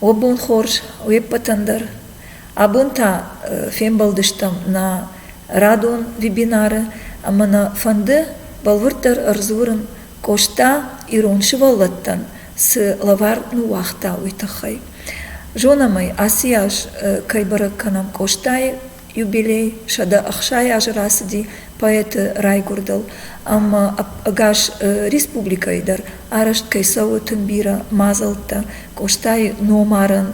Уӕ бон хорз, уе ппӕтӕн дӕр. Абон та фембӕлдыстӕм нӕ радон вебинары ӕмӕ нӕ фӕнды бӕлвырддӕр ӕрдзурын Къоста ирон сывӕллӕттӕн цы лӕвар ныууагъта, уый тыххӕй. Зонӕм ӕй, ацы аз кӕй бӕрӕг кӕнӕм Къостайы юбилей сӕдӕ ӕхсай азы рацыди поэты райгуырдыл ӕмӕ ӕгас республикӕйы дӕр арӕзт кӕй цӕуы тынг бирӕ мадзӕлттӕ къостайы номарӕн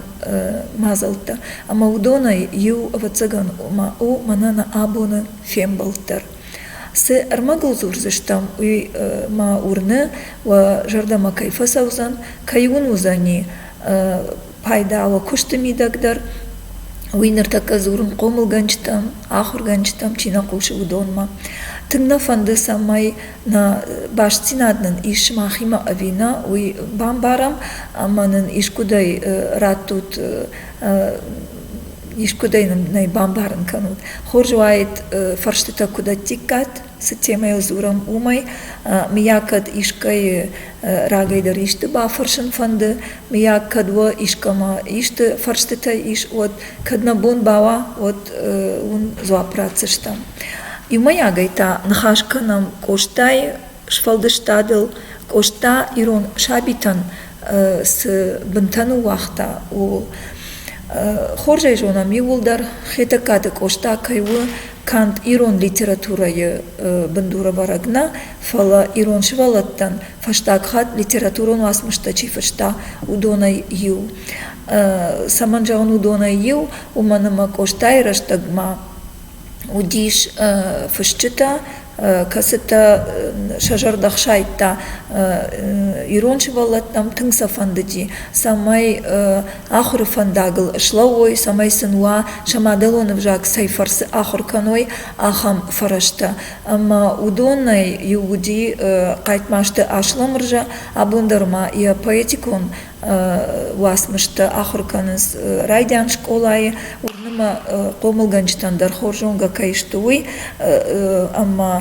мадзӕлттӕ ӕмӕ уыдонӕй иу ӕвӕццӕгӕн у мӕнӕ абоны фембӕлд дӕр цы ӕрмӕгыл дзурдзыстӕм уый ма уырны уӕ зӕрдӕмӕ кӕй фӕцӕудзӕн кӕй уын уыдзӕни пайда у куысты мидӕг дӕр. Уый ныртӕккӕ дзурын хъомылгӕнджытӕм, ахуыргӕнджытӕм чи нӕ хъусы, уыдонмӕ. Тынг нӕ фӕнды, цӕмӕй нӕ бастдзинад нын ис сымахимӕ ӕви нӕ, уый бамбарӕм ӕмӕ нын искуыдӕй раттут искуыдӕй нын нӕ бамбарын кӕнут. Хорз уаид фӕрстытӕ куыд ӕттиккат. Цы темӕйыл дзурӕм, уымӕй, мыййаг кӕд искӕйы рагӕй дӕр исты бафӕрсын фӕнды, мыййаг кӕд уӕ искӕмӕ исты фӕрстытӕ ис, уӕд, кӕд нӕ бон бауа, уӕд уын дзуапп ратдзыстӕм. Иумӕйагӕй та ныхас кӕнӕм Къостайы сфӕлдыстадыл. Къоста ирон сабитӕн цы бынтӕ ныууагъта, ууыл. Хорз ӕй зонӕм иууылдӕр, Хетӕгкаты Къоста кӕй у канд ирон литературӕйы бындурӕвӕрӕг нӕ, фӕлӕ ирон сывӕллӕттӕн фӕстаг хатт литературон уацмыстӕ чи фыста, уыдонӕй иу. Цӕмӕн зӕгъын уыдонӕй иу, уымӕн ӕмӕ Къостайы рӕстӕгмӕ уыдис фысджытӕ, кӕцытӕ сӕ зӕрдӕ хсайдта ирон сывӕллӕттӕм тынг сӕ фӕндыди, цӕмӕй ахуыры фӕндагыл слӕууой, цӕмӕй сын уа сӕ мадӕлон ӕвзаг цӕй фӕрцы ахуыр кӕной, ахӕм фӕрӕзтӕ. Ӕмӕ уыдонӕй иу уыди Хъайтмазты Асламырза, абон дӕр ма йӕ поэтикон уацмыстӕ ахуыр кӕнынц райдиан скъолайы уырны мӕ хъомылгӕнджытӕн дӕр хорз зонгӕ кӕй сты уый ӕмӕ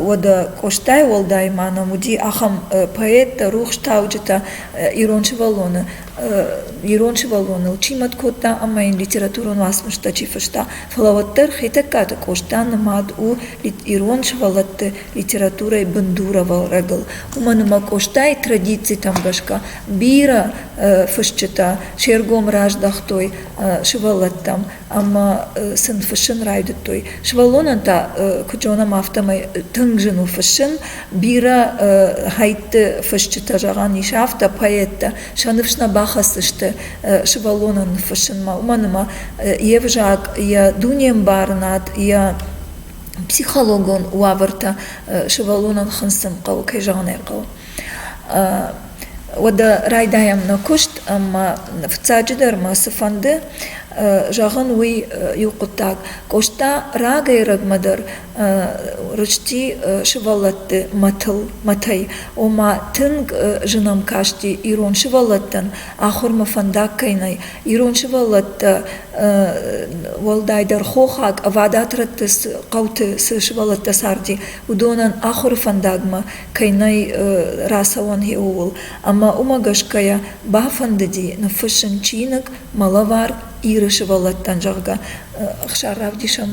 уӕдӕ къостайы уӕлдай ма нӕм уыди ахӕм поэттӕ рухстауджытӕ ирон сывӕллоны ирон сывӕллоныл чи мӕт кодта ӕмӕ йын литературон уацмыстӕ чи фыста фӕлӕ уӕддӕр хетӕгкаты къоста нымад у ирон сывӕллӕтты литературӕйы бындуровӕрӕгыл. Уымӕн ӕмӕ Къостайы традицитӕм гӕсгӕ бирӕ фысджытӕ се ргом раздӕхтой сывӕллӕттӕм ӕмӕ сын фыссын райдыдтой. Сывӕллонӕн та, куыд зонӕм, афтӕмӕй тынг зын у фыссын. Бирӕ хӕйтты фысджытӕ, зӕгъӕн ис, афтӕ поэттӕ сӕ ныфс нӕ бахӕцдзысты сывӕллонӕн ныффыссынмӕ, уымӕн ӕмӕ йе взаг, йӕ дунембарынад, йӕ психологон уавӕртӕ сывӕллонӕн хынцын хъӕуы, кӕй зӕгъын ӕй хъӕуы. Уӕдӕ райдайӕм нӕ куыст ӕмӕ фыццаджыдӕр мӕ цы фӕнды зӕгъын, уый иу хъуыддаг. Къоста рагӕй-ӕрӕгмӕ дӕр рысти сывӕллӕтты мӕтыл, мӕтӕй. Ома тынг зын ӕм касти ирон сывӕллӕттӕн ахуырмӕ фӕндаг кӕй нӕй, Ирон сывӕллӕттӕ уӕлдайдӕр хохаг ӕвадат рӕтты хъӕуты цы сывӕллӕттӕ царди, уыдонӕн ахуыры фӕндагмӕ кӕй нӕй рацӕуӕн ууыл. Ӕмӕ уымӕ гӕсгӕйӕ бафӕндыди ныффыссын чиныг Мӕ лӕвар Иры сывӕллӕттӕн, зӕгъгӕ. Ӕхсар равдиса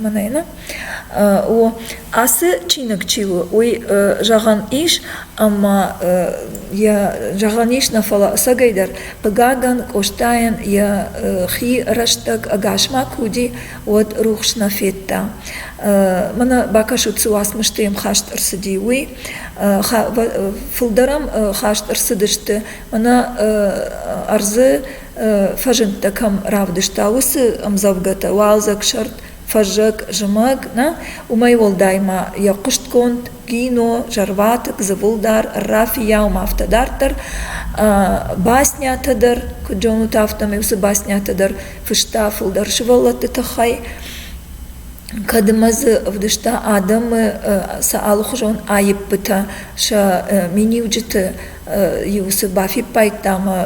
мӕнӕ. О, ацы чиныг чи у, уый зӕгъӕн ис ӕмӕ йӕ зӕгъӕн ис нӕ фӕлӕ ӕцӕгӕйдӕр, хъыгагӕн, Къостайӕн йӕ хи рӕстӕг ӕгасмӕ куы уыди, уӕд рухс нӕ федта. Мӕнӕ бакӕсут, цы уацмысты йӕм хаст ӕрцыди, уый. Фылдӕр ӕм хаст ӕрцыдысты, мӕнӕ ӕрдзы фӕзындтӕ кӕм равдыста, уыцы ӕмдзӕвгӕтӕ, уалдзӕг сӕрд, фӕззӕг, зымӕг, нӕ? Уымӕй уӕлдай ма йӕ хъуыстгонд кино Зӕрватыкк, Дзывылдар, Рафийау ма афтӕ дарддӕр. Баснятӕ дӕр, куыд зонут, афтӕмӕй уыцы баснятӕ дӕр фыста фылдӕр сывӕллӕтты тыххӕй. Кӕдмӕ дзы ӕвдыста адӕмы сӕ алыхуызон аиппытӕ, сӕ миниуджыты-иу цы бафиппайдта ӕмӕ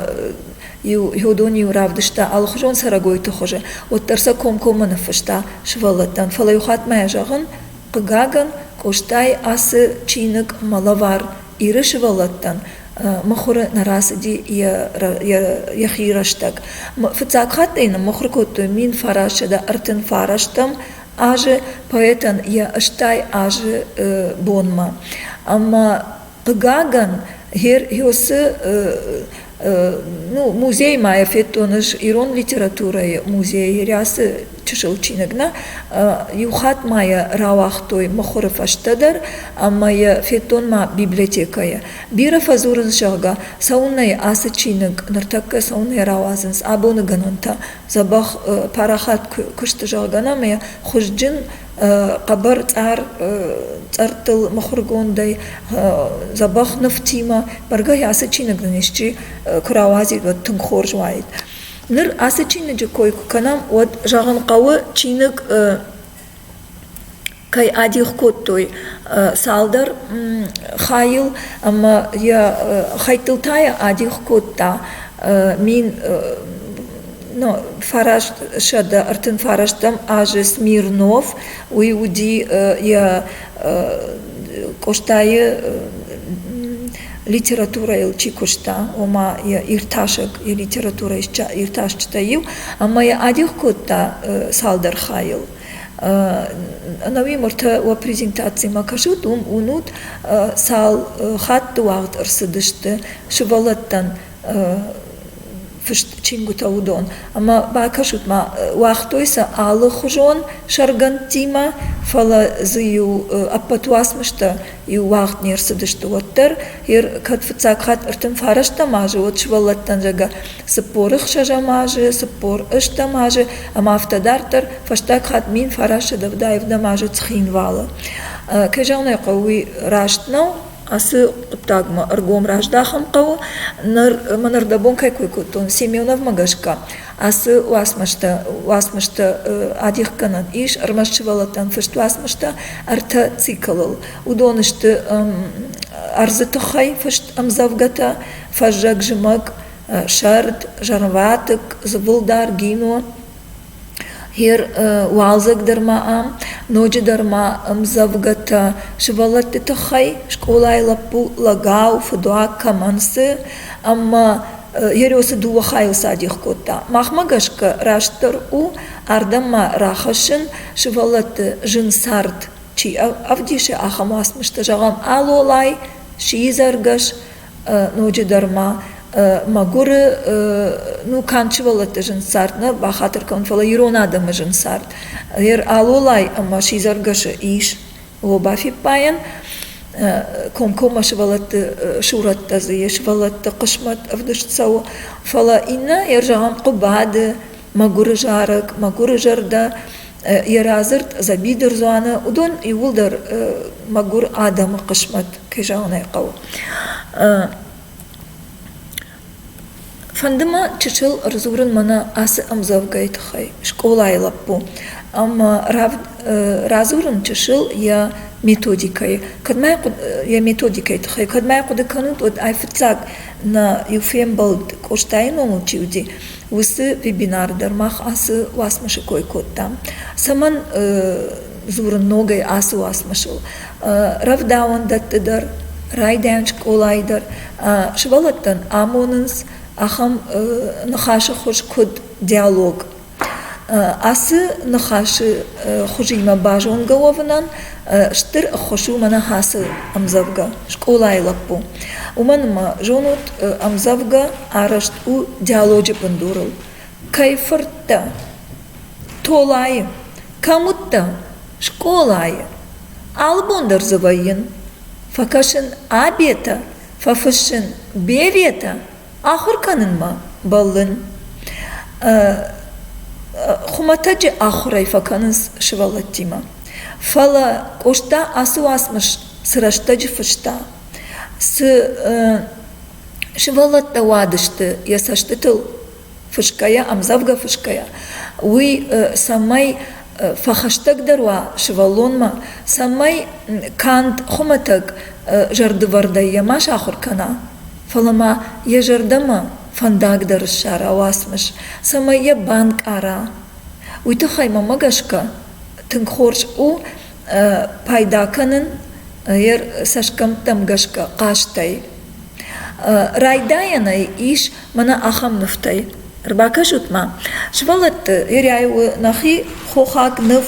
Иу дон-иу равдыста алыхуызон цӕрӕгойты хуызы, уӕддӕр сӕ комкоммӕ ныффыста сывӕллӕттӕн, фӕлӕ иухатт мӕ зӕгъын, хъыгагӕн, Къостайы ацы чиныг мӕ лӕвар Иры сывӕллӕттӕн мыхуыры нӕ рацыди йӕхи рӕстӕг. Фыццаг хатт ӕй ныммыхуыр кодтой мин фарассӕдӕ ӕртынфарӕстӕм азы поэтӕн йӕ стӕй азы бонмӕ. Ӕмӕ Хъыгагӕн, Херъосы музей ма федтон ӕз ирон литературӕйы музейы рӕсы чысыл чиныгмӕ. Иу хатт ма йӕ рауагътой мыхуыры фӕстӕ дӕр ӕмӕ йӕ федтон ма библиотекӕйы. Бирӕ фӕдзурынц, зӕгъгӕ, цӕуылнӕ ацы чиныг ныртӕккӕ цӕуылнӕ рауадзынц абоныгӕнӕнтӕ, дзӕбӕх парахат куы сты, зӕгъгӕ, ӕмӕ йӕ хуызджын хъӕбӕр цъар цъӕрттыл мыхуыргондӕй дзӕбӕх нывтимӕ бӕргӕ ацы чиныг нын исчи куы рауадзид уӕд тынг хорз уаид ныр ацы чиныджы кой куы кӕнӕм уӕд зӕгъын хъӕуы чиныг кӕй адих кодтой цалдӕр хайыл ӕмӕ йӕ хӕйттыл та йӕ адих кодта мин фараст сӕдӕ ӕртын фарӕстӕм азы смирнов уый уыди йӕ къостайы литературӕйыл чи куыста ома йӕ иртасӕг йӕ литературӕйы иртасджытӕ иу ӕмӕ йӕ адих кодта цалдӕр хайыл ӕнӕуи мыртӕ уӕ презентацимӕ кӕсут уым уынут цал хатты уагъд ӕрцыдысты сывӕллӕттӕн фыст чингуытӕ уыдон. Ӕмӕ бакӕсут-ма, уагътой сӕ алыхуызон сӕргӕндтимӕ, фӕлӕ дзы-иу ӕппӕт уацмыстӕ иу уагъд не рцыдысты уӕддӕр. Кӕд фыццаг хатт ӕртын фарӕстӕм азы, уӕд сывӕллӕттӕн зӕгӕ цыппор ӕхсӕзӕм азы, цыппор ӕстӕм азы, ӕмӕ афтӕ дарддӕр, фӕстаг хатт мин фарасӕдӕв ӕвдӕм азы Цхинвалы. Кӕй зӕгъын ӕй хъӕуы, уый раст нӕу, ацы хъуыддагмӕ ӕргом раздахын хъӕуы ныр мӕн ӕрдӕбон кӕй кой кодтон семеновмӕ гӕсгӕ ацы уацмыстӕ уацмыстӕ адихгӕнӕн ис ӕрмӕст сывӕллӕттӕн фыст уацмыстӕ ӕртӕ циклыл уыдон сты ӕрдзы тыххӕй фыст ӕмдзӕвгӕтӕ фӕззӕг зымӕг сӕрд зӕрватыкк зыбылдар гино Гъер уалдзӕгдӕр ма ам, ноджыдӕр ма ӕмдзӕвгӕтӕ сывӕллӕтты тыххӕй, скъолайы лӕппу лӕгау, фыдуаг кӕмӕн цы, ӕмӕ йӕ рёсы дыууӕ хайыл садих кодта. Махмӕ гӕсгӕ растдӕр у ардӕм-ма рахӕссын, сывӕллӕтты зын цард чи ӕвдисы, ахӕм уацмыстӕ. Зӕгъӕм, «Алолай», «Сидзӕргӕс», ноджыдӕр ма мӕгуыры ну канд сывӕллӕтты зын цард нӕ бахатыр кӕнын, фӕлӕ ирон адӕмы зын цард. Гъер алолай ӕмӕ сидзӕргӕсы ис лоба фиппайӕн, комкоммӕ сывӕллӕтты сурӕттӕ дзы, йе сывӕллӕтты хъысмӕт ӕвдыст цӕуы. Фӕлӕ иннӕ, йӕ зӕгъӕм, хъуыбады, мӕгуыры зарӕг, мӕгуыры зӕрдӕ, йӕ радзырд Дзӕби дырдзуаны, уыдон иууылдӕр мӕгуыр адӕмы хъысмӕт, кӕй зӕгъын ӕй хъӕуы. Фӕнды мӕ чысыл ӕрдзурын мӕнӕ ацы ӕмдзӕвгӕйы тыххӕй скъолайы лӕппу ӕмӕ радзурын чысыл йӕ методикӕйы. Кӕд ма йӕ методикӕйы тыххӕй, кӕд ма хъуыды кӕнут, уӕд ай фыццаг нӕ иу фембӕлд Къостайы номыл чи уыди, Уыцы вебинары дӕр мах ацы уацмысы кой кодтам. Цӕмӕн дзурын ногӕй ацы уацмысыл? Рӕвдауӕндӕтты дӕр, райдайӕн скъолайы дӕр сывӕллӕттӕн амонынц ахӕм ныхасы хуыз куыд диалог. Ацы ныхасы хуызимӕ базонгӕ уӕвынӕн стыр ӕххуыс у мӕнӕ ацы ӕмдзӕвгӕ «Скъолайы лӕппу». Уымӕн ӕмӕ зонут ӕмдзӕвгӕ Арӕзт у диалоджы бындурыл, кӕй фырттӕ? Толайы. Кӕм уыдтӕ? Скъолайы. Алы бон дӕр дзы вӕййын. Фӕкӕсын обетӕ, фӕфыссын беветӕ, ахуыр кӕнынмӕ бӕллын. Хуымӕтӕджы ахуырӕй фӕкӕнынц сывӕллӕттимӕ. Фӕлӕ Къоста ацы уацмыс цы рӕстӕджы фыста, цы Сывӕллӕттӕ уадысты йӕ цӕстытыл фысгӕйӕ, ӕмдзӕвгӕ фысгӕйӕ, уый цӕмӕй фӕхӕстӕгдӕр уа сывӕллонмӕ, цӕмӕй канд хуымӕтӕг зӕрдывӕрдӕй йӕ ма сахуыр кӕна, фӕлӕ ма йӕ зӕрдӕмӕ фӕндагдӕр ссара уацмыс, цӕмӕй йӕ банкъара. Уый тыххӕй мӕмӕ гӕсгӕ тынг хорз у пайда кӕнын йе цӕсгӕмттӕм гӕсгӕ хъазтӕй. Райдайӕнӕй ис мӕнӕ ахӕм нывтӕй. Ӕрбакӕсут-ма. Сывӕллӕтты Ирӕй у нӕхи хохаг ныв,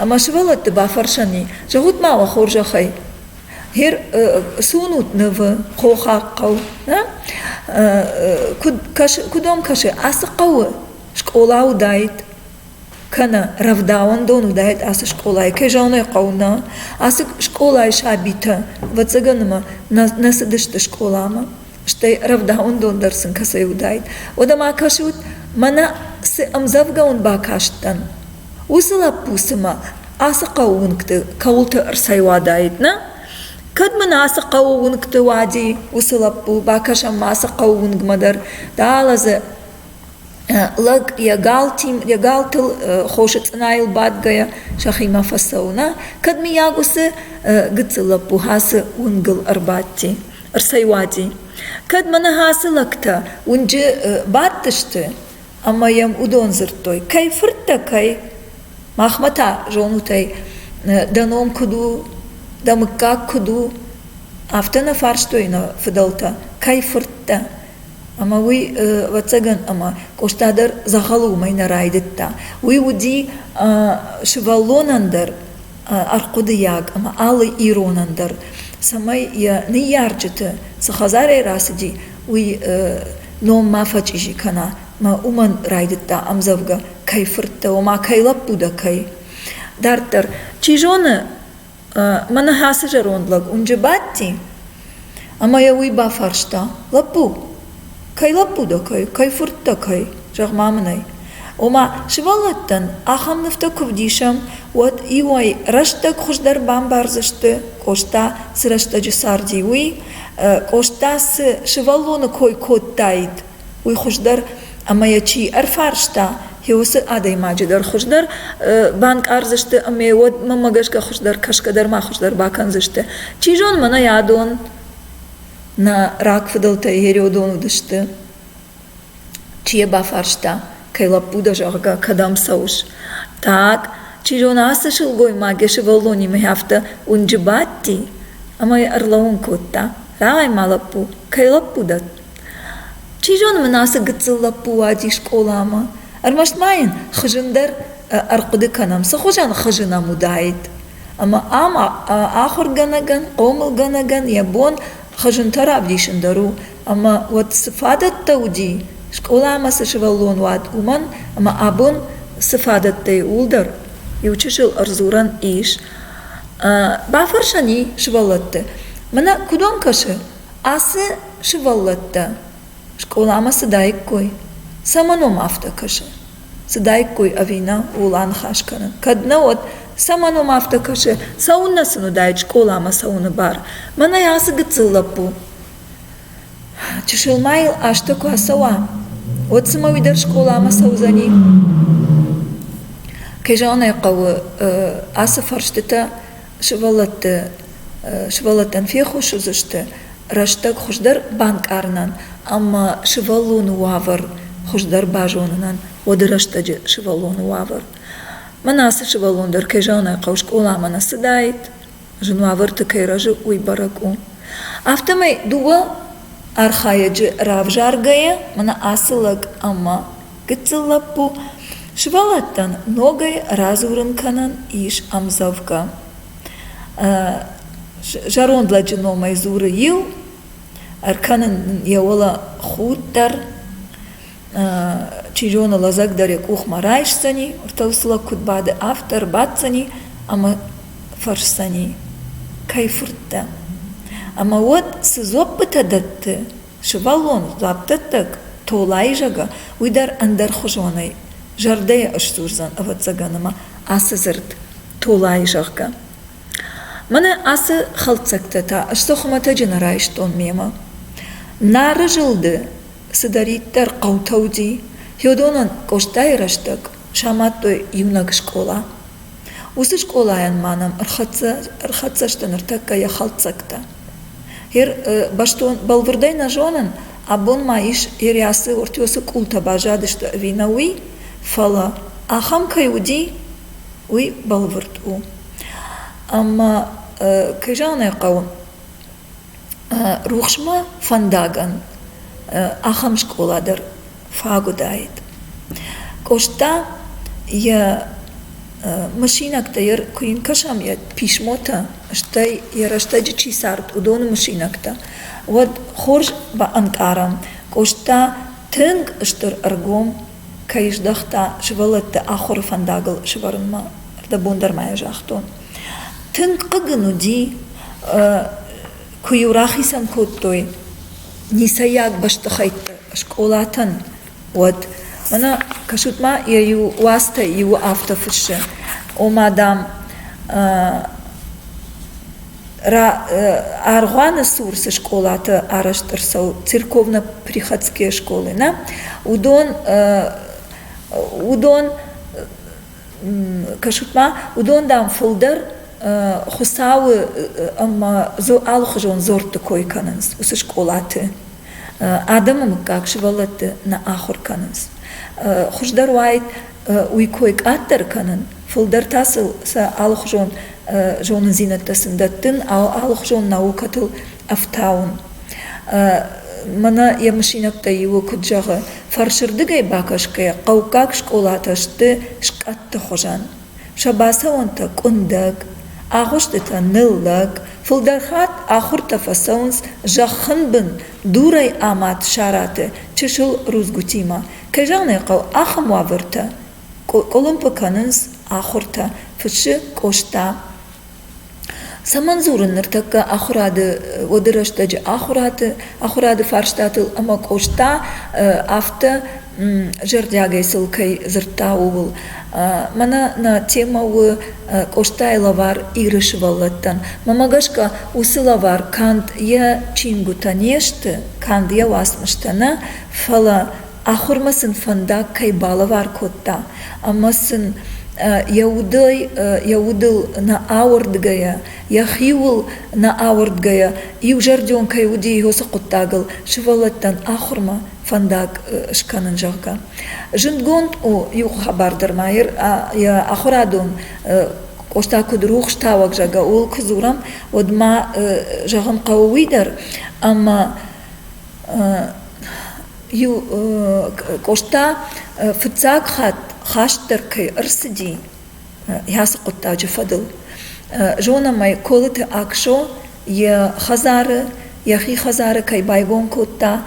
ӕмӕ сывӕллӕтты бафӕрсӕн и, зӕгъут-ма уӕ хорзӕхӕй, хер цы уынут нывы хохаг хъӕу? нӕ? Куыд кӕсы, куыдом кӕсы ацы хъӕуы? Скъола уыдаид. кӕнӕ рӕвдауӕндон уыдаид ацы скъолайы кӕй зӕгъын хъӕуы нӕ ацы скъолайы сабитӕ ӕвӕццӕгӕн ӕмӕ нӕ цыдысты скъоламӕ стӕй рӕвдауӕндон дӕр сын кӕцӕй уыдаид уӕдӕ ма кӕсут мӕнӕ цы ӕмдзӕвгӕуын бакастӕн уыцы лӕппу цымӕ ацы хъӕуы уынгты кӕуылты ӕрцӕйуадаид нӕ кӕд мын ацы хъӕуы уынгты уади уыцы лӕппу бакӕсӕм ма ацы хъӕуы уынгмӕ дӕр далӕ дзы Лӕг йӕ галтыл хосы цъынайыл бадгӕйӕ сӕхимӕ фӕцӕуы, нӕ? Кӕд, мыййаг, уыцы гыццыл лӕппу хӕцы уынгыл ӕрбадти, ӕрцӕйуади? Кӕд мӕ ныхасы лӕгтӕ уынджы бадтысты ӕмӕ йӕм уыдон дзырдтой: «Кӕй фырт дӕ, кӕй? Махмӕ та, зонут ӕй, дӕ ном куыд у, дӕ мыггаг куыд у?» Афтӕ нӕ фарстой нӕ фыдӕлтӕ: «Кӕй фырт дӕ?» Ӕмӕ уый, ӕвӕццӕгӕн, ӕмӕ Къоста дӕр дзӕгъӕлы уымӕй нӕ райдыдта. Уый уыди сывӕллонӕн дӕр ӕрхъуыдыйаг ӕмӕ алы иронӕн дӕр, цӕмӕй йӕ ныййарджыты цы хӕдзарӕй рацыди, уый ном ма фӕчъизи кӕна мӕ уымӕн райдыдта ӕмдзӕвгӕ «Кӕй фырттӕ, ома кӕй лӕппу дӕ, кӕй?». Дарддӕр, чи зоны, Мӕ ныхасы зӕронд лӕг уынджы бадти ӕмӕ йӕ уый бафарста: Лӕппу, кӕй лӕппу дӕ, кӕй, кӕй фырт дӕ, кӕй? Зӕгъ-ма мын ӕй. Ома, сывӕллӕттӕн ахӕм нывтӕ куы вдисӕм, уӕд иуӕй рӕстӕг хуыздӕр бамбардзысты, Къоста цы рӕстӕджы царди, уый, Къоста цы сывӕллоны кой кодтаид, уый хуыздӕр ӕмӕ йӕ чи ӕрфарста, йӕ уыцы адӕймаджы дӕр хуыздӕр банкъардзысты ӕмӕ уӕд мӕмӕ гӕсгӕ хуыздӕр кӕсгӕ дӕр ма хуыздӕр бакӕндзысты. Чи зоны, мӕнӕ адон нӕ рагфыдӕлтӕ Ерёдон уыдысты. Чи йӕ бафарста, кӕй лӕппу дӕ, зӕгъгӕ, кӕдӕм цӕуыс? Так, чи зоны, ацы сылгоймаг йӕ сывӕллонимӕ афтӕ уынджы бадти, ӕмӕ йӕ ӕрлӕууын кодта. Рауай-ма, лӕппу, кӕй лӕппу дӕ? Чи зоны мын ацы гыццыл лӕппу уади скъоламӕ. Ӕрмӕст ма йын хызын дӕр ӕрхъуыды кӕнӕм, цы хуызӕн хызын ӕм уыдаид. Ӕмӕ ам ахуыргӕнӕгӕн, хъомылгӕнӕгӕн йӕ бон хызынтӕ равдисын дӕр у. Ӕмӕ уӕд цы фадӕттӕ уыди, скъоламӕ цы сывӕллон уад, уымӕн, ӕмӕ абон цы фадӕттӕй ууыл дӕр иу чысыл ӕрдзурӕн ис. Бафӕрсӕн и сывӕллӕтты: мӕнӕ куыдон кӕсы? Ацы сывӕллӕттӕ скъоламӕ цыдаиккой, цӕмӕн уӕм афтӕ кӕсы? Цыдаиккой ӕви нӕ, ууыл аныхас кӕнын. Кӕд нӕ, уӕд цӕмӕн уӕм афтӕ кӕсы? Цӕуыннӕ сын уыдаид скъоламӕ цӕуыны бар? Мӕнӕй ацы гыццыл лӕппу чысылмайыл азтӕ куы ацӕуа, уӕд цымӕ уый дӕр скъоламӕ цӕудзӕни? Кӕй зӕгъын ӕй хъӕуы, ацы фӕрстытӕ сывӕллӕтты сывӕллӕттӕн феххуыс уыдзысты рӕстӕг хуыздӕр банкъарынӕн ӕмӕ сывӕллоны уавӕр хуыздӕр базонынӕн уӕды рӕстӕджы сывӕллоны уавӕр мӕн ацы сывӕллон дӕр кӕй зӕгъын ӕй хъӕуы скъоламӕ нӕ цыдаид зын уавӕрты кӕй рӕзы уый бӕрӕг у афтӕмӕй дыууӕ архайӕджы равзаргӕйӕ мӕнӕ ацы лӕг ӕмӕ Гыццыл лӕппу, сывӕллӕттӕн ногӕй радзурын кӕнӕн ис ӕмдзӕвгӕ. Зӕронд лӕджы номӕй дзуры иу, ӕркӕнын йӕ уӕлӕ худ дӕр, чи зоны лӕдзӕг дӕр йӕ къухмӕ райсдзӕни, ӕртӕфсылӕг куыд бады, афтӕ ӕрбаддзӕни ӕмӕ фӕрсдзӕни: кӕй фырттӕ? Ӕмӕ уӕд цы дзоппытӕ дӕтты, Сывӕллон дзуаппдӕттӕг Толаизӕгӕ уый дӕр ӕндӕрхуызонӕй зӕрдӕйӕ ысдзурдзӕн, ӕвӕццӕгӕн, ӕмӕ ацы дзырд Толайы, зӕгъгӕ. Мӕнӕ ацы хӕлддзӕгтӕ та сты хуымӕтӕджы нӕ райстон мемӕ. Нары зылды цыдӕриддӕр хъӕутӕ уыди, Феодонӕн Къостайы рӕстӕг самадтой иунӕг скъола. Уыцы скъолайӕн ма нӕм ӕрхӕццӕ сты ныртӕккӕ йӕ хӕлддзӕгтӕ. бӕстон бӕлвырдӕй нӕ зонын абон ма ис ириасы ортиосы къултӕ баззадысты ӕви нӕ уый фӕлӕ ахӕм кӕй уыди уый бӕлвырд у ӕмӕ кӕй зӕгъын ӕй хъӕуы рухсмӕ фӕндагӕн ахӕм скъола дӕр фаг уыдаид. Къоста йӕ мысинӕгтӕ куы йын кӕсӕм йӕ писмотӕ, стӕй йӕ рӕстӕджы чи цард, уыдоны мысинӕгтӕ, уӕд хорз баӕнкъарӕм, Къоста тынг стыр ӕргом кӕй здӕхта сывӕллӕтты ахуыры фӕндагыл сӕвӕрынмӕ. Ӕрдӕбон дӕр ма йӕ загътон. Тынг хъыг ын уыди Куы-иу рахицӕн кодтой ницӕййаг бӕстыхӕйтты скъолатӕн, уӕд. Мӕнӕ кӕсут-ма, йӕ иу уацтӕй иуы афтӕ фыссы: ома, дам, аргъуаны цур цы скъолатӕ арӕзт ӕрцӕуы, церковно-приходские школы, нӕ, уыдон, уыдон кӕсут-ма, уыдон, дам, фылдӕр Хуыцауы ӕмӕ алыхуызон дзордты кой кӕнынц уыцы скъолаты. Адӕмы мыггаг сывӕллӕтты нӕ ахуыр кӕнынц. Хуыздӕр уаид уый кой къаддӕр кӕнын, фылдӕр та сыл сӕ алыхуызон зонындзинӕдтӕ сын дӕттын, алыхуызон наукӕтыл ӕфтауын. Мӕнӕ йӕ мысинӕгтӕй иуы куыд зӕгъы, фӕрсырдыгӕй бакӕсгӕйӕ хъӕуккаг скъолатӕ сты скъӕтты хуызӕн. Сӕ бацӕуӕнтӕ къуындӕг, агъуыстытӕ ныллӕг, фылдӕр хатт ахуыртӕ фӕцӕуынц зӕххынбын дурӕй амад сараты чысыл рудзгуытимӕ. Кӕй зӕгъын ӕй хъӕуы, ахӕм уавӕртӕ къуылымпы кӕнынц ахуыртӕ, фыссы Къоста. Цӕмӕн дзурын ныртӕккӕ ахуырады уӕды рӕстӕджы ахуырады ахуырады фарстатыл ӕмӕ Къоста афтӕ зӕрдиагӕй сыл кӕй дзырдта, ууыл. Мӕнӕ нӕ темӕ у Къостайы лӕвар Иры сывӕллӕттӕн. Мӕмӕ гӕсгӕ уыцы лӕвар канд йӕ чингуытӕ не сты, канд йӕ уацмыстӕ нӕ, фӕлӕ Ахуырмӕ сын фӕндаг кӕй балӕвар кодта ӕмӕ сын йӕ удӕй йӕ удыл нӕ ауӕрдгӕйӕ, йӕхиуыл нӕ ауӕрдгӕйӕ иузӕрдион кӕй уыди Иосы хъуыддагыл сывӕллӕттӕн ахуырмӕ фӕндаг скӕнын, зӕгъгӕ. Зындгонд у иу хабар дӕр ма йӕ ахуырадон Къоста куыд рухстауӕг, зӕгъгӕ, ууыл куы дзурӕм, уӕд ма зӕгъын хъӕуы уый дӕр, ӕмӕ иу Къоста фыццаг хатт хастдӕр кӕй ӕрцыди ацы хъуыддаджы фӕдыл. Зонӕм ӕй Колыты Аксо йӕ хӕдзары, йӕхи хӕдзары кӕй байгом кодта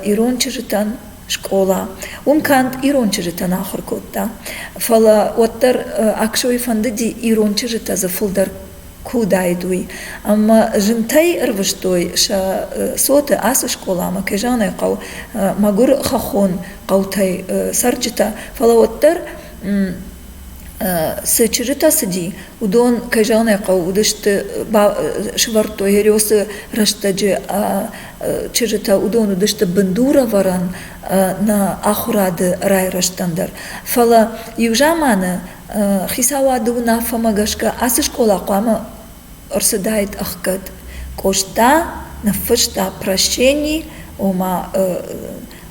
ирон чызджытӕн скъола. Уым канд ирон чызджытӕн ахуыр кодта, фӕлӕ уӕддӕр Аксойы фӕндыди ирон чызджытӕ дзы фылдӕр куы уыдаид, уый. Ӕмӕ зынтӕй ӕрвыстой сӕ цоты ацы скъоламӕ, кӕй зӕгъын ӕй хъӕуы, мӕгуыр хӕххон хъӕутӕй цӕрджытӕ. Фӕлӕ уӕддӕр цы чызджытӕ цыди, уыдон, кӕй зӕгъын ӕй хъӕуы, уыдысты, сӕвӕрдтой Хериосы рӕстӕджы чызджытӕ, уыдон уыдысты бындурӕвӕрӕн нӕ ахуырады райрӕзтӕн дӕр. Фӕлӕ иу заманы Хицауады уынаффӕмӕ гӕсгӕ ацы скъола хъуамӕ ӕрцыдаид ӕхгӕд. Къоста ныффыста прощение, ома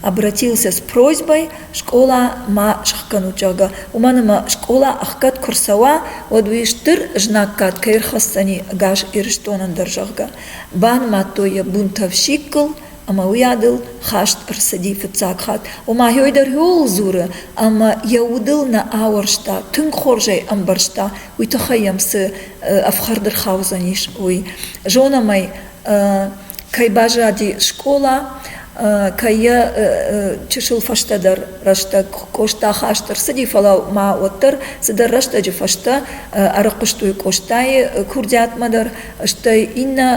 обратился с просьбой скъола ма сӕхгӕнут, зӕгъгӕ. Уымӕн ӕмӕ скъола ӕхгӕд куы рцӕуа, уӕд уый стыр знаггад кӕй ӕрхӕсдзӕни ӕгас Ирыстонӕн дӕр, зӕгъгӕ. Банымадтой йӕ бунтовщикыл, ӕмӕ уый адыл хаст ӕрцыди фыццаг хатт. Ома йой дӕр ууыл дзуры, ӕмӕ йӕ удыл нӕ ауӕрста, тынг хорз ӕй ӕмбӕрста, уый тыххӕй йӕм цы ӕфхӕрд ӕрхаудзӕнис, уый. Зонӕм ӕй, кӕй баззади скъола, кӕй йӕ чысыл фӕстӕдӕр рӕстӕг Къоста хаст ӕрцыди, фӕлӕ ма уӕддӕр цыдӕр рӕстӕджы фӕстӕ ӕрыхъуыстой Къостайы курдиатмӕ дӕр, стӕй иннӕ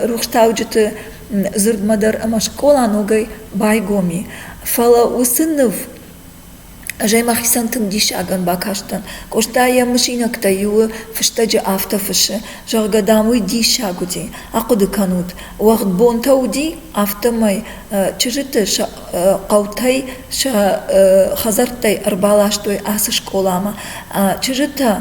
рухстауджыты дзырдмӕ дӕр ӕмӕ скъола ногӕй байгом и. Фӕлӕ уыцы ныв ӕз мӕхицӕн тынг диссагӕн бакастӕн. Къоста йӕ мысинӕгтӕй иуы фыстӕджы афтӕ фыссы, зӕгъгӕ, дам, уый диссаг уыди. Ахъуыды кӕнут, уӕгъд бонтӕ уыди, афтӕмӕй чызджыты сӕ хъӕутӕй, сӕ хӕдзӕрттӕй ӕрбаластой ацы скъоламӕ. Чызджытӕ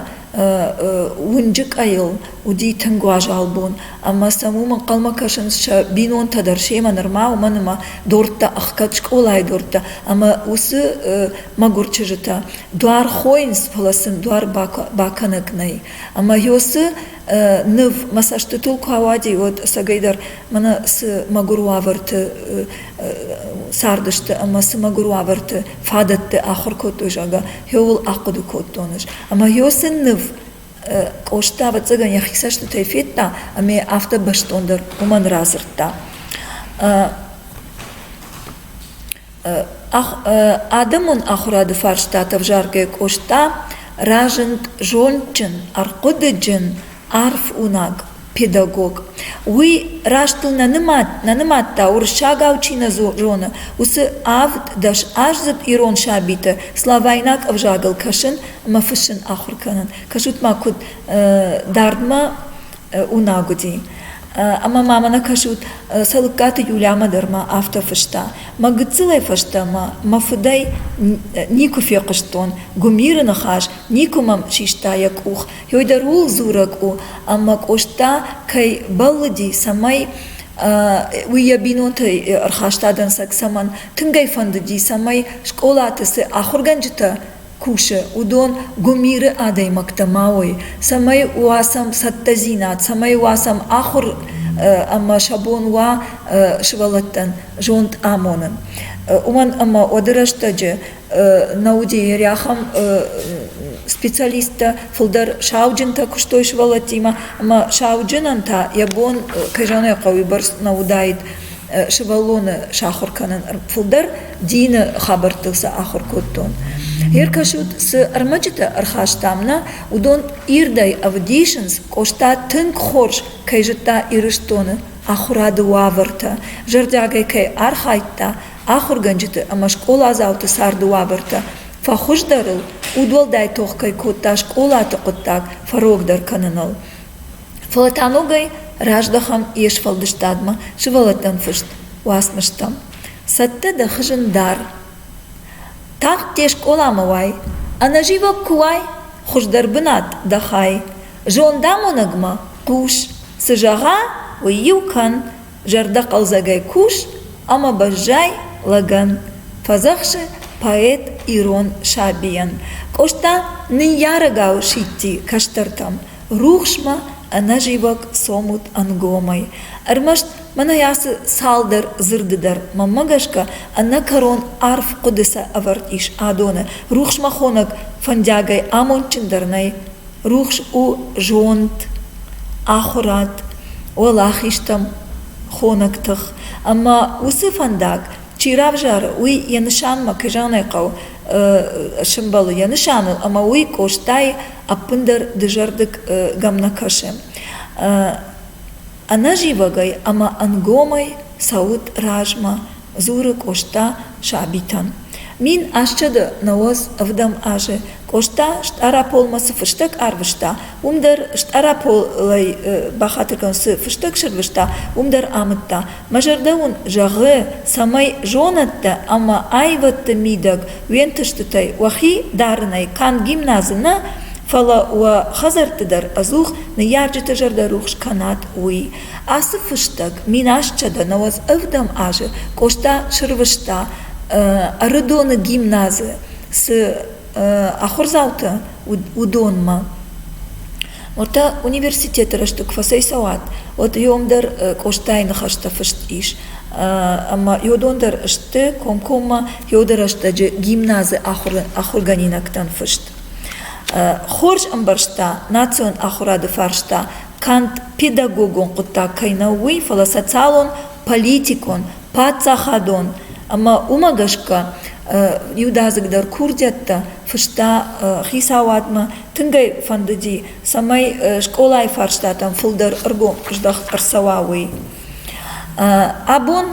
уынджы къӕйыл уыди тынг уазал бон ӕмӕ сӕм уым ӕнхъӕлмӕ кӕсынц сӕ бинонтӕ дӕр семӕ нырма уымӕн ӕмӕ дорттӕ ӕхгӕд скъолайы дорттӕ ӕмӕ уыцы мӕгуыр чызджытӕ дуар хойынц фӕлӕ сын дуар бакӕнӕг нӕй ӕмӕ ёсы ныв мӕ цӕстытыл куы ауади уӕд ӕцӕгӕйдӕр мӕнӕ цы мӕгуыр уавӕрты цардысты ӕмӕ цы мӕгуыр уавӕрты фадӕтты ахуыр кодтой зӕгъгӕ ёуыл ахъуыды кодтон ӕмӕ ёсы ныв Къоста, ӕвӕццӕгӕн, йӕхи цӕстытӕй федта ӕмӕ афтӕ бӕстондӕр уымӕн радзырдта. Адӕмон ахуырады фарстатӕ ӕвзаргӕ Къоста разынд зондджын, ӕрхъуыдыджын, арф уынаг. педагог. Уый раст дыл нӕ нымад, нӕ нымадта, уырыссагау чи нӕ зоны, уыцы авд дӕс аздзыд ирон сабиты славайнаг ӕвзагыл кӕсын ӕмӕ фыссын ахуыр кӕнын. Кӕсут-ма, куыд дардмӕ уынаг уыди. Ӕмӕ ма мӕнӕ кӕсут, Цӕлыккаты Юлямӕ дӕр ма афтӕ фыста. Мӕ гыццылӕй фӕстӕмӕ мӕ фыдӕй никуы фехъуыстон, гуымиры ныхас никуы мӕм систа йӕ къух, уый дӕр ууыл дзурӕг у, ӕмӕ Къоста кӕй бӕллыди, цӕмӕй уый йӕ бинонтӕй ӕрхаста дӕнцӕг, цӕмӕн тынг ӕй фӕндыди, цӕмӕй скъолаты цы ахуыргӕнджытӕ кусы, уыдон гуымиры адӕймӕгтӕ ма уой, цӕмӕй уа сӕм цӕттӕдзинад, цӕмӕй уа сӕм ахуыр ӕмӕ сӕ бон уа сывӕллӕттӕн зонд амонын. Уымӕн ӕмӕ уӕды рӕстӕджы Наудейы рӕхӕм специалисттӕ фылдӕр сауджынтӕ куыстой сывӕллӕттимӕ ӕмӕ сауджынӕн та йӕ бон, кӕй зӕгъын ӕй хъӕуы, бӕрц нӕ уыдаид сывӕллоны сахуыр кӕнын. Фылдӕр дины хабӕрттыл сӕ ахуыр кодтон. Йе ркӕсут, цы ӕрмӕджытӕ ӕрхастам нӕ, уыдон ирдӕй ӕвдисынц, Къоста тынг хорз кӕй зыдта Ирыстоны ахуырады уавӕртӕ, зӕрдиагӕй кӕй архайдта ахуыргӕнджыты ӕмӕ скъоладзауты царды уавӕртӕ фӕхуыздӕрыл удуӕлдай тох кӕй кодта скъолаты хъуыддаг фӕрогдӕр кӕныныл фӕлӕ та ногӕй раздӕхӕм йе сфӕлдыстадмӕ сывӕллӕттӕн фыст уацмыстӕм цӕттӕ дӕ хызын дӕр тагъд де скъоламӕ уай ӕнӕзивӕг куы уай хуыздӕр бынат дӕ хай зондамонӕгмӕ хъус цы зӕгъа уый иу кӕн Зӕрдӕхъӕлдзӕгӕй кус ӕмӕ баззай лӕгӕн, фӕдзӕхсы поэт ирон сабийӕн. Къоста ныййарӕгау сидти кӕстӕртӕм, рухсмӕ ӕнӕзивӕг цомут ӕнгомӕй. Ӕрмӕст мӕнӕ ацы цалдӕр дзырды дӕр мӕнмӕ гӕсгӕ ӕнӕкӕрон арф хъуыды сӕ ӕвӕрд ис адоны. Рухсмӕ хонӕг фӕндиагӕй амондджындӕр нӕй. рухс у зонд ахуырад уӕлахизтӕм хонӕг тых ӕмӕ уыцы фӕндаг чи равзары уый йӕ нысанмӕ кӕй зӕгъынӕй хъӕуы сымбӕлы йӕ нысаныл ӕмӕ уый къостайы ӕппындӕр дызӕрдыгӕм нӕ кӕсы ӕнӕзивӕгӕй ӕмӕ ӕнгомӕй цӕуыд размӕ дзуры Къоста сабитӕн. Мин асчъыды нӕуӕдз ӕвдӕм азы Къоста Стъараполмӕ цы фыстӕг арвыста, уым дӕр Стъараполӕй бахатыргӕн цы фыстӕг сырвыста, уым дӕр амыдта. Мӕ зӕрдӕ уын зӕгъы, цӕмӕй зонӕдтӕ ӕмӕ аивӕдты мидӕг уе нтыстытӕй уӕхи дарынӕй канд гимназы нӕ, фӕлӕ уӕ хӕдзӕртты дӕр ӕдзух ныййарджыты зӕрдӕ рухс кӕнат, уый. Ацы фыстӕг минасчъӕдӕнӕуӕдз ӕвдӕм азы Къоста срвыста Ӕрыдоны гимназы цы ахуырдзаутӕ уыдонмӕ. Уӕртӕ университеты рӕстӕг куы фӕцӕйцӕуат, уӕд иом дӕр Къостайы ныхӕстӕ фыст ис. Ӕмӕ иодон дӕр сты комкоммӕ иоды рӕстӕджы гимназы ахуыргӕнинӕгтӕн фыст. Хорз ӕмбӕрста национ ахуырады фарста канд педагогон хъуыддаг кӕй нӕу уый, фӕлӕ социалон, политикон, паддзахадон ӕмӕ уымӕ гӕсгӕ иудадзыгдӕр курдиӕттӕ фыста хицауадмӕ. Тынг ӕй фӕндыди, цӕмӕй скъолайы фарстатӕм фылдӕр ӕргом здӕхт ӕрцӕуа, уый. Абон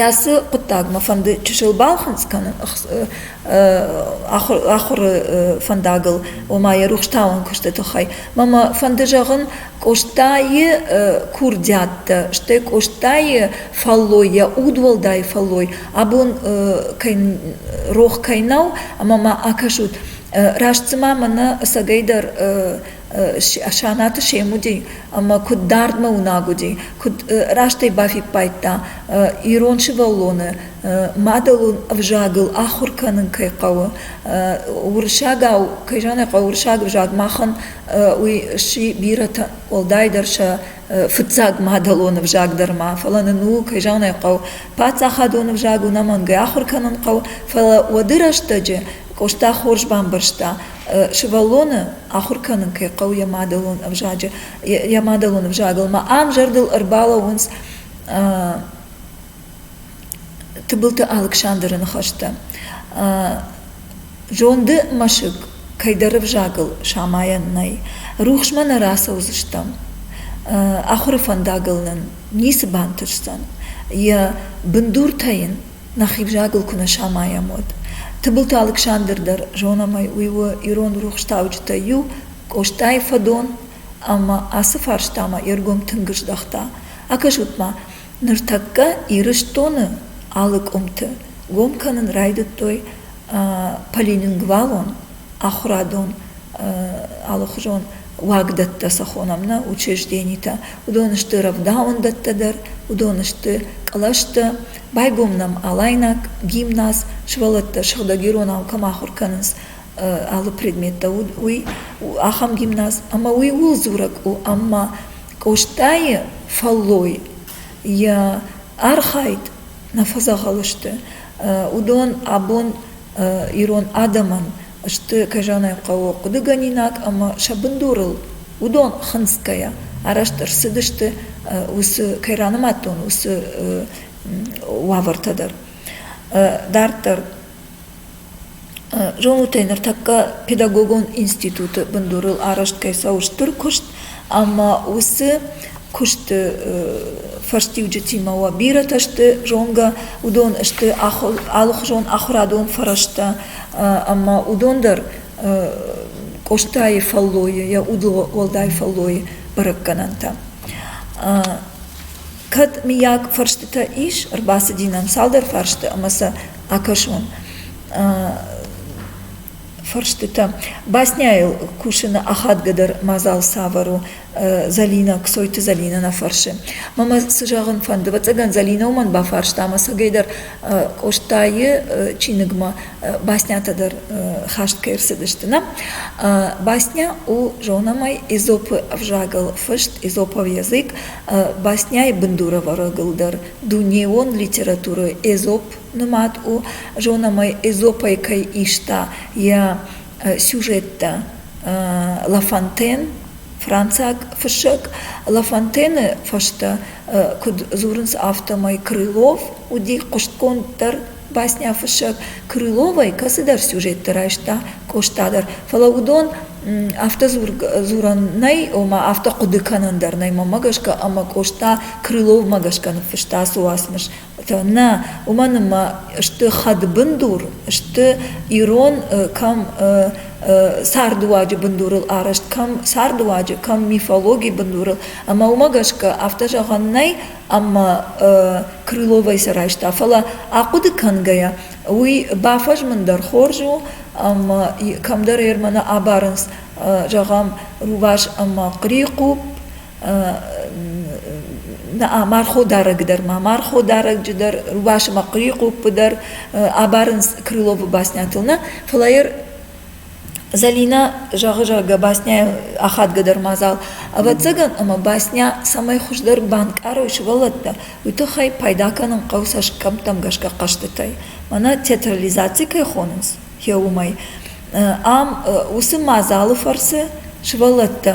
Ацы хъуыддагмӕ фӕнды чысыл балхынцъ кӕнын ахуыры фӕндагыл, ома йӕ рухстауӕн куысты тыххӕй. Мӕмӕ фӕнды зӕгъын Къостайы курдиаттӕ, стӕй Къостайы фӕллой, йӕ удуӕлдай фӕллой абон рох кӕй нӕу ӕмӕ мӕ акӕсут. Раст цыма мӕнӕ ӕцӕгӕйдӕр Санаты сем уыди ӕмӕ куыд дардмӕ уынаг уыди, куыд раст ӕй бафиппайдта, ирон сывӕллоны мадӕлон ӕвзагыл ахуыр кӕнын кӕй хъӕуы. Уырыссагау, кӕй зӕгъын ӕй хъӕуы, уырыссаг ӕвзаг махӕн уый сси бирӕтӕ, уӕлдайдӕр сӕ фыццаг мадӕлон ӕвзаг дӕр ма. Фӕлӕ нын ууыл, кӕй зӕгъын ӕй хъӕуы, паддзахадон ӕвзаг уынӕмӕнгӕй ахуыр кӕнын хъӕуы, фӕлӕ уӕды рӕстӕджы Къоста хорз бамбӕрста, сывӕллоны ахуыр кӕнын кӕй хъӕуы йӕ мадӕлон ӕвзаджы йӕ мадӕлон ӕвзагыл ма ам зӕрдыл ӕрбалӕууынц тыбылты алыксандры ныхӕстӕ зонды мӕсыг кӕйдӕр ӕвзагыл самайӕн нӕй рухсмӕ нӕ рацӕудзыстӕм ахуыры фӕндагыл нын ницы бантысдзӕн йӕ бындуртӕ йын нӕхи взагыл куы нӕ самайӕм, уӕд. Тыбылты Алыксандр дӕр зонӕм ӕй, уый у ирон рухстауджытӕй иу, Къостайы фӕдон, ӕмӕ ацы фарстамӕ йе ргом тынг здӕхта. Акӕсут-ма, ныртӕккӕ Ирыстоны алы къуымты гом кӕнын райдыдтой полилингвалон ахуырадон алыхуызон уагдӕттӕ сӕ хонӕм нӕ учрежденитӕ. Уыдон сты рӕвдауӕндӕттӕ дӕр, уыдон сты кълӕстӕ, байгом нӕм алайнаг гимназ сывӕллӕттӕ сыгъдӕг иронау кӕм ахуыр кӕнынц алы предметтӕ уый ахӕм гимназ ӕмӕ уый ууыл дзурӕг у ӕмӕ къостайы фӕллой йӕ архайд нӕ фӕдзӕгъӕл сты уыдон абон ирон адӕмӕн сты кӕзӕнӕй хъӕуы хъуыдыгӕнинаг ӕмӕ сӕ бындурыл уыдон хынцгӕйӕ арӕзт ӕрцыдысты уыцы кӕй ранымадтон уыцы уавӕртӕ дӕр. Дарддӕр зонутӕй ныртӕккӕ педагогон институты бындурыл арӕзт кӕй цӕуы стыр куыст, Ӕмӕ уыцы куысты фӕстиуджытимӕ уӕ бирӕтӕ сты зонгӕ, уыдон сты алыхуызон ахуырадон фӕрӕзтӕ ӕмӕ уыдон дӕр Къостайы фӕллойы, йӕ удуӕлдай фӕллойы бӕрӕггӕнӕнтӕ. Кӕд, миййаг, фӕрстытӕ ис, ӕрбацыди нӕм цалдӕр фарсты ӕмӕ сӕ акӕсон. фӕрстытӕ. Басняйыл кусыны ахадгӕ дӕр мадзал цавӕр у? Зӕлинӕ, Кцойты Зӕлинӕ нӕ фӕрсы. Мамӕ, цы зӕгъын фӕнды? Ӕвӕццӕгӕн Зӕлинӕ уымӕн бафарста ӕмӕ сӕгӕй дӕр Къостайы чиныгмӕ баснятӕ дӕр хаст кӕй ӕрцыдысты нӕ. Басня у зонӕмӕй Изопы ӕвзагыл фыст, изопов язык. Басняйы бындурӕвӕрӕгыл дӕр дунейон литературӕ Эзоп нымад у зонӕмӕ эзопӕй кӕй иста йӕ сюжеттӕ ла фонтен францаг фыссӕг ла фонтены фӕстӕ куыд дзурынц афтӕмӕй крылов уыди хъуыстгонддӕр басняфыссӕг крыловӕй кӕцыдӕр сюжетты райста къоста дӕр фӕлӕ уыдон афтӕ дзурӕн нӕй ома афтӕ хъуыды кӕнӕн дӕр нӕй мӕмӕ гӕсгӕ ӕмӕ къоста крыловмӕ гӕсгӕ ныффыста ацы уацмыс Нӕ, уымӕн ӕмӕ сты хӕдбындур, сты ирон кӕм цардыуаджы бындурыл арӕзт, кӕм цардыуаджы, кӕм мифологийы бындурыл. Ӕмӕ уымӕ гӕсгӕ афтӕ зӕгъӕн нӕй, ӕмӕ Крыловӕй сӕ райста. Фӕлӕ ахъуыды кӕнгӕйӕ, уый бафӕзмын дӕр хорз у, ӕмӕ кӕмдӕр ӕрмӕны абарынц, зӕгъӕм, рувас ӕмӕ хърихъупп, марходарӕг дӕр ма марходарӕджы дӕр рувасы ӕмӕ хъуыйы къуппы дӕр абарынц крыловы баснятыл нӕ фӕлӕ йӕ Зӕлинӕ зӕгъы зӕгъгӕ басняйы ахадгӕдӕр мадзал ӕвӕццӕгӕн ӕмӕ басня цӕмӕй хуыздӕр банкъарой сывӕллӕттӕ уый тыххӕй пайда кӕнын хъӕуы цӕсгӕмттӕм гӕсгӕ хъӕзтытӕй мӕнӕ театрализаци кӕй хонынц уымӕй. Ам уыцы мадзалы фӕрцы сывӕллӕттӕ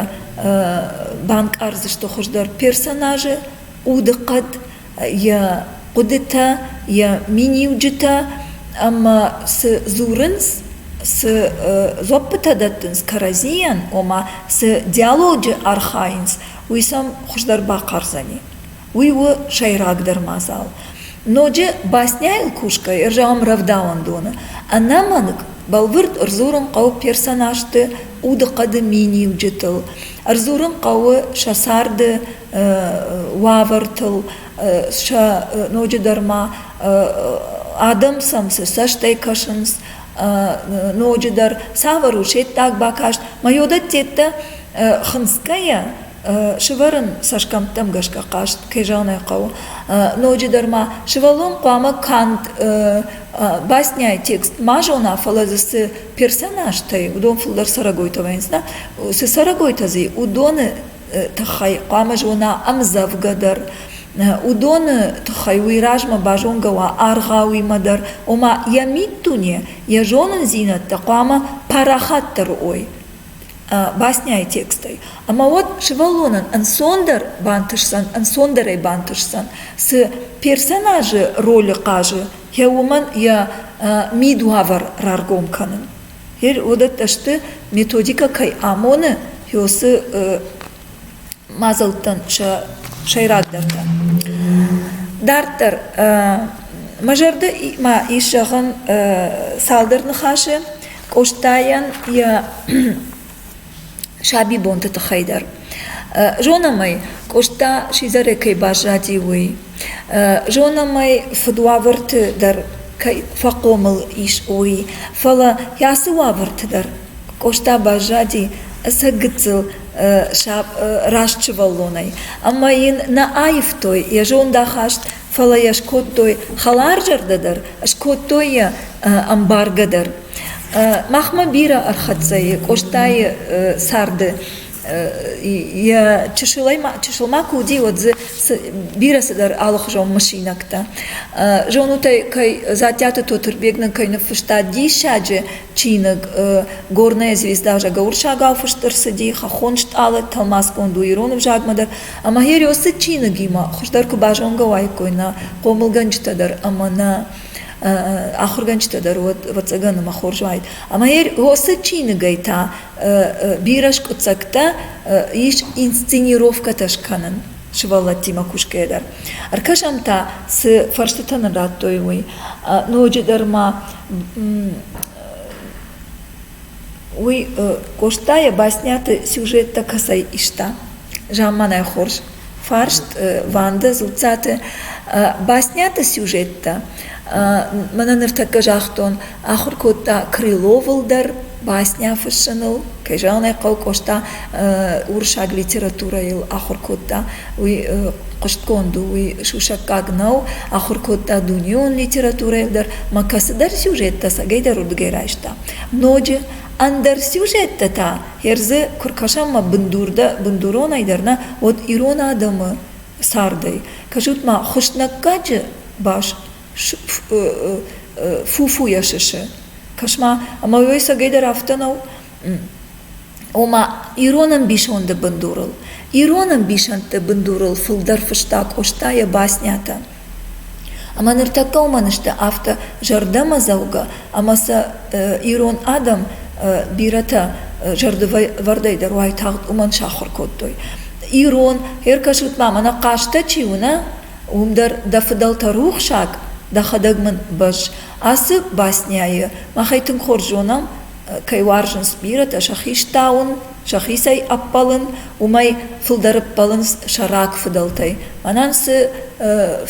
банкъардзысты хуыздӕр персонажы удыхъӕд, йӕ хъуыдытӕ, йӕ миниуджытӕ ӕмӕ цы дзурынц, цы дзуӕппытӕ дӕттынц кӕрӕдзийӕн, ома цы диалоджы архайынц, уый сӕм хуыздӕр бахъардзӕни. уый у сӕйрагдӕр мадзал. Ноджы басняйыл кусгӕ ӕрзауӕм рӕвдауӕндоны. Ӕнӕмӕнг бӕлвырд ӕрдзурын хъӕуы персонажты удыхъӕды миниуджытыл, ӕрдзурын хъӕуы сӕ царды уавӕртыл, сӕ ноджыдӕр ма адӕм сӕм цы цӕстӕй кӕсынц, ноджыдӕр цавӕр у се ддаг бакаст. Ма йодӕттеттӕ хынцгӕйӕ, Сывӕрын цӕсгӕмттӕм гӕсгӕ хъазт, кӕй зӕгъын ӕй хъӕуы, ноджыдӕр ма сывӕллон хъуамӕ канд басняйы текст ма зона, фӕлӕ дзы цы персонажтӕй уыдон фылдӕр цӕрӕгойтӕ вӕййынц, да, цы цӕрӕгойтӕ дзы уыдоны тыххӕй хъуамӕ зона ӕмдзӕвгӕ дӕр. Уыдоны тыххӕй уый размӕ базонгӕ уа аргъауимӕ дӕр, ома йӕ миддуне, йӕ зонындзинӕдтӕ хъуамӕ парахатдӕр уой. басняйы текстӕй ӕмӕ уӕд сывӕллонӕн ӕнцондӕр бантысдзӕн ӕнцондӕрӕй бантысдзӕн цы персонажы ролы хъазы йӕ уымӕн йӕ мидуавӕр раргом кӕнын уыдӕттӕ сты методикӕ кӕй амоны йосы мадзӕлттӕн сӕ сӕйрагдӕртӕ. Дарддӕр, мӕ зӕрдӕмӕ ис зӕгъын цалдӕр ныхасы Къостайӕн йӕ сабибонты тыххӕй дӕр. Зонӕм ӕй, Къоста сидзӕрӕй кӕй баззади, уый. Зонӕм ӕй, фыдуавӕрты дӕр кӕй фӕхъомыл ис, уый. Фӕлӕ йӕ ацы уавӕрты дӕр Къоста баззади ӕцӕг гыццыл раст сывӕллонӕй, ӕмӕ йын нӕ аивтой йӕ зондахаст, фӕлӕ йӕ скодтой хӕларзӕрдӕ дӕр, скодтой йӕ ӕмбаргӕ дӕр. Махмӕ бирӕ ӕрхӕццӕ и Къостайы царды. Йӕ чысыл ма куы уыди, уӕд дзы бирӕ цыдӕр алыхуызон мысинӕгтӕ. Зонут ӕй, кӕй Дзаттиаты Тотырбег нын кӕй ныффыста диссаджы чиныг «Горная звезда» зӕгӕуырсагау фыст ӕрцыди хӕххон стъалы тӕлмацгонд у ирон ӕвзагмӕ дӕр ӕмӕ Хериосы чиныгимӕ хуыздӕр куы базонгӕ уаиккой нӕ хъомылгӕнджытӕ дӕр ӕмӕ нӕ ахуыргӕнджытӕ дӕр уӕд ӕвӕццӕгӕн ӕмӕ хорз уаид ӕмӕ Хериосы чиныгӕй та бирӕ скъуыддзӕгтӕ ис инсценировкӕтӕ скӕнын сывӕллӕттимӕ кусгӕйӕ дӕр. Ӕркӕсӕм та, цы фӕрстытӕ нын радтой уый. Ноджыдӕр ма уый Къостайӕ басняты сюжеттӕ кӕцӕй иста? Замманай хорз. Фарст Ванда Дзуццаты. Басняты сюжеттӕ. Мӕнӕ ныртӕккӕ загътон Ахуыр кодта Крыловыл дӕр басня фыссыныл, кӕй зӕгъын ӕй хъӕуы, Къоста уырыссаг литературӕйыл ахуыр кодта, уый хъуыстгонд у, уый сусӕггаг нӕу, ахуыр кодта дунеон литературӕйыл дӕр ӕмӕ кӕцыдӕр сюжеттӕ сагӕйдӕр уырдыгӕй райста. Ноджы ӕндӕр сюжеттӕ та хӕрзы куы ркӕсӕм ӕмӕ бындур дӕ бындуронӕй дӕр нӕ, уӕд ирон адӕмы цардӕй. Кӕсут-ма, Хуыснӕггаджы бас фуфуйӕ сысы. Кӕс-ма, ӕмӕ уый сӕгӕйдӕр афтӕ нӕу, ома ирон ӕмбисонды бындурыл, ирон ӕмбисӕндты бындурыл фылдӕр фыста Къоста йӕ баснятӕ. Ӕмӕ ныртӕккӕ уымӕн сты афтӕ зӕрдӕмӕдзӕугӕ ӕмӕ сӕ ирон адӕм бирӕтӕ зӕрдывӕрдӕй дӕр уайтагъд уымӕн сахуыр кодтой. Ирон, феркӕсут-ма, мӕнӕ хъазтӕ чи уынӕ, уым дӕр дӕ фыдӕлтӕ рухсаг, дӕхӕдӕг мын бӕзз. Ацы басняйы махӕй тынг хорз зонӕм, кӕй уарзынц бирӕтӕ сӕхи стауын, сӕхицӕй ӕппӕлын, уымӕй фылдӕр ӕппӕлынц сӕ раг фыдӕлтӕй. Мӕнӕн цы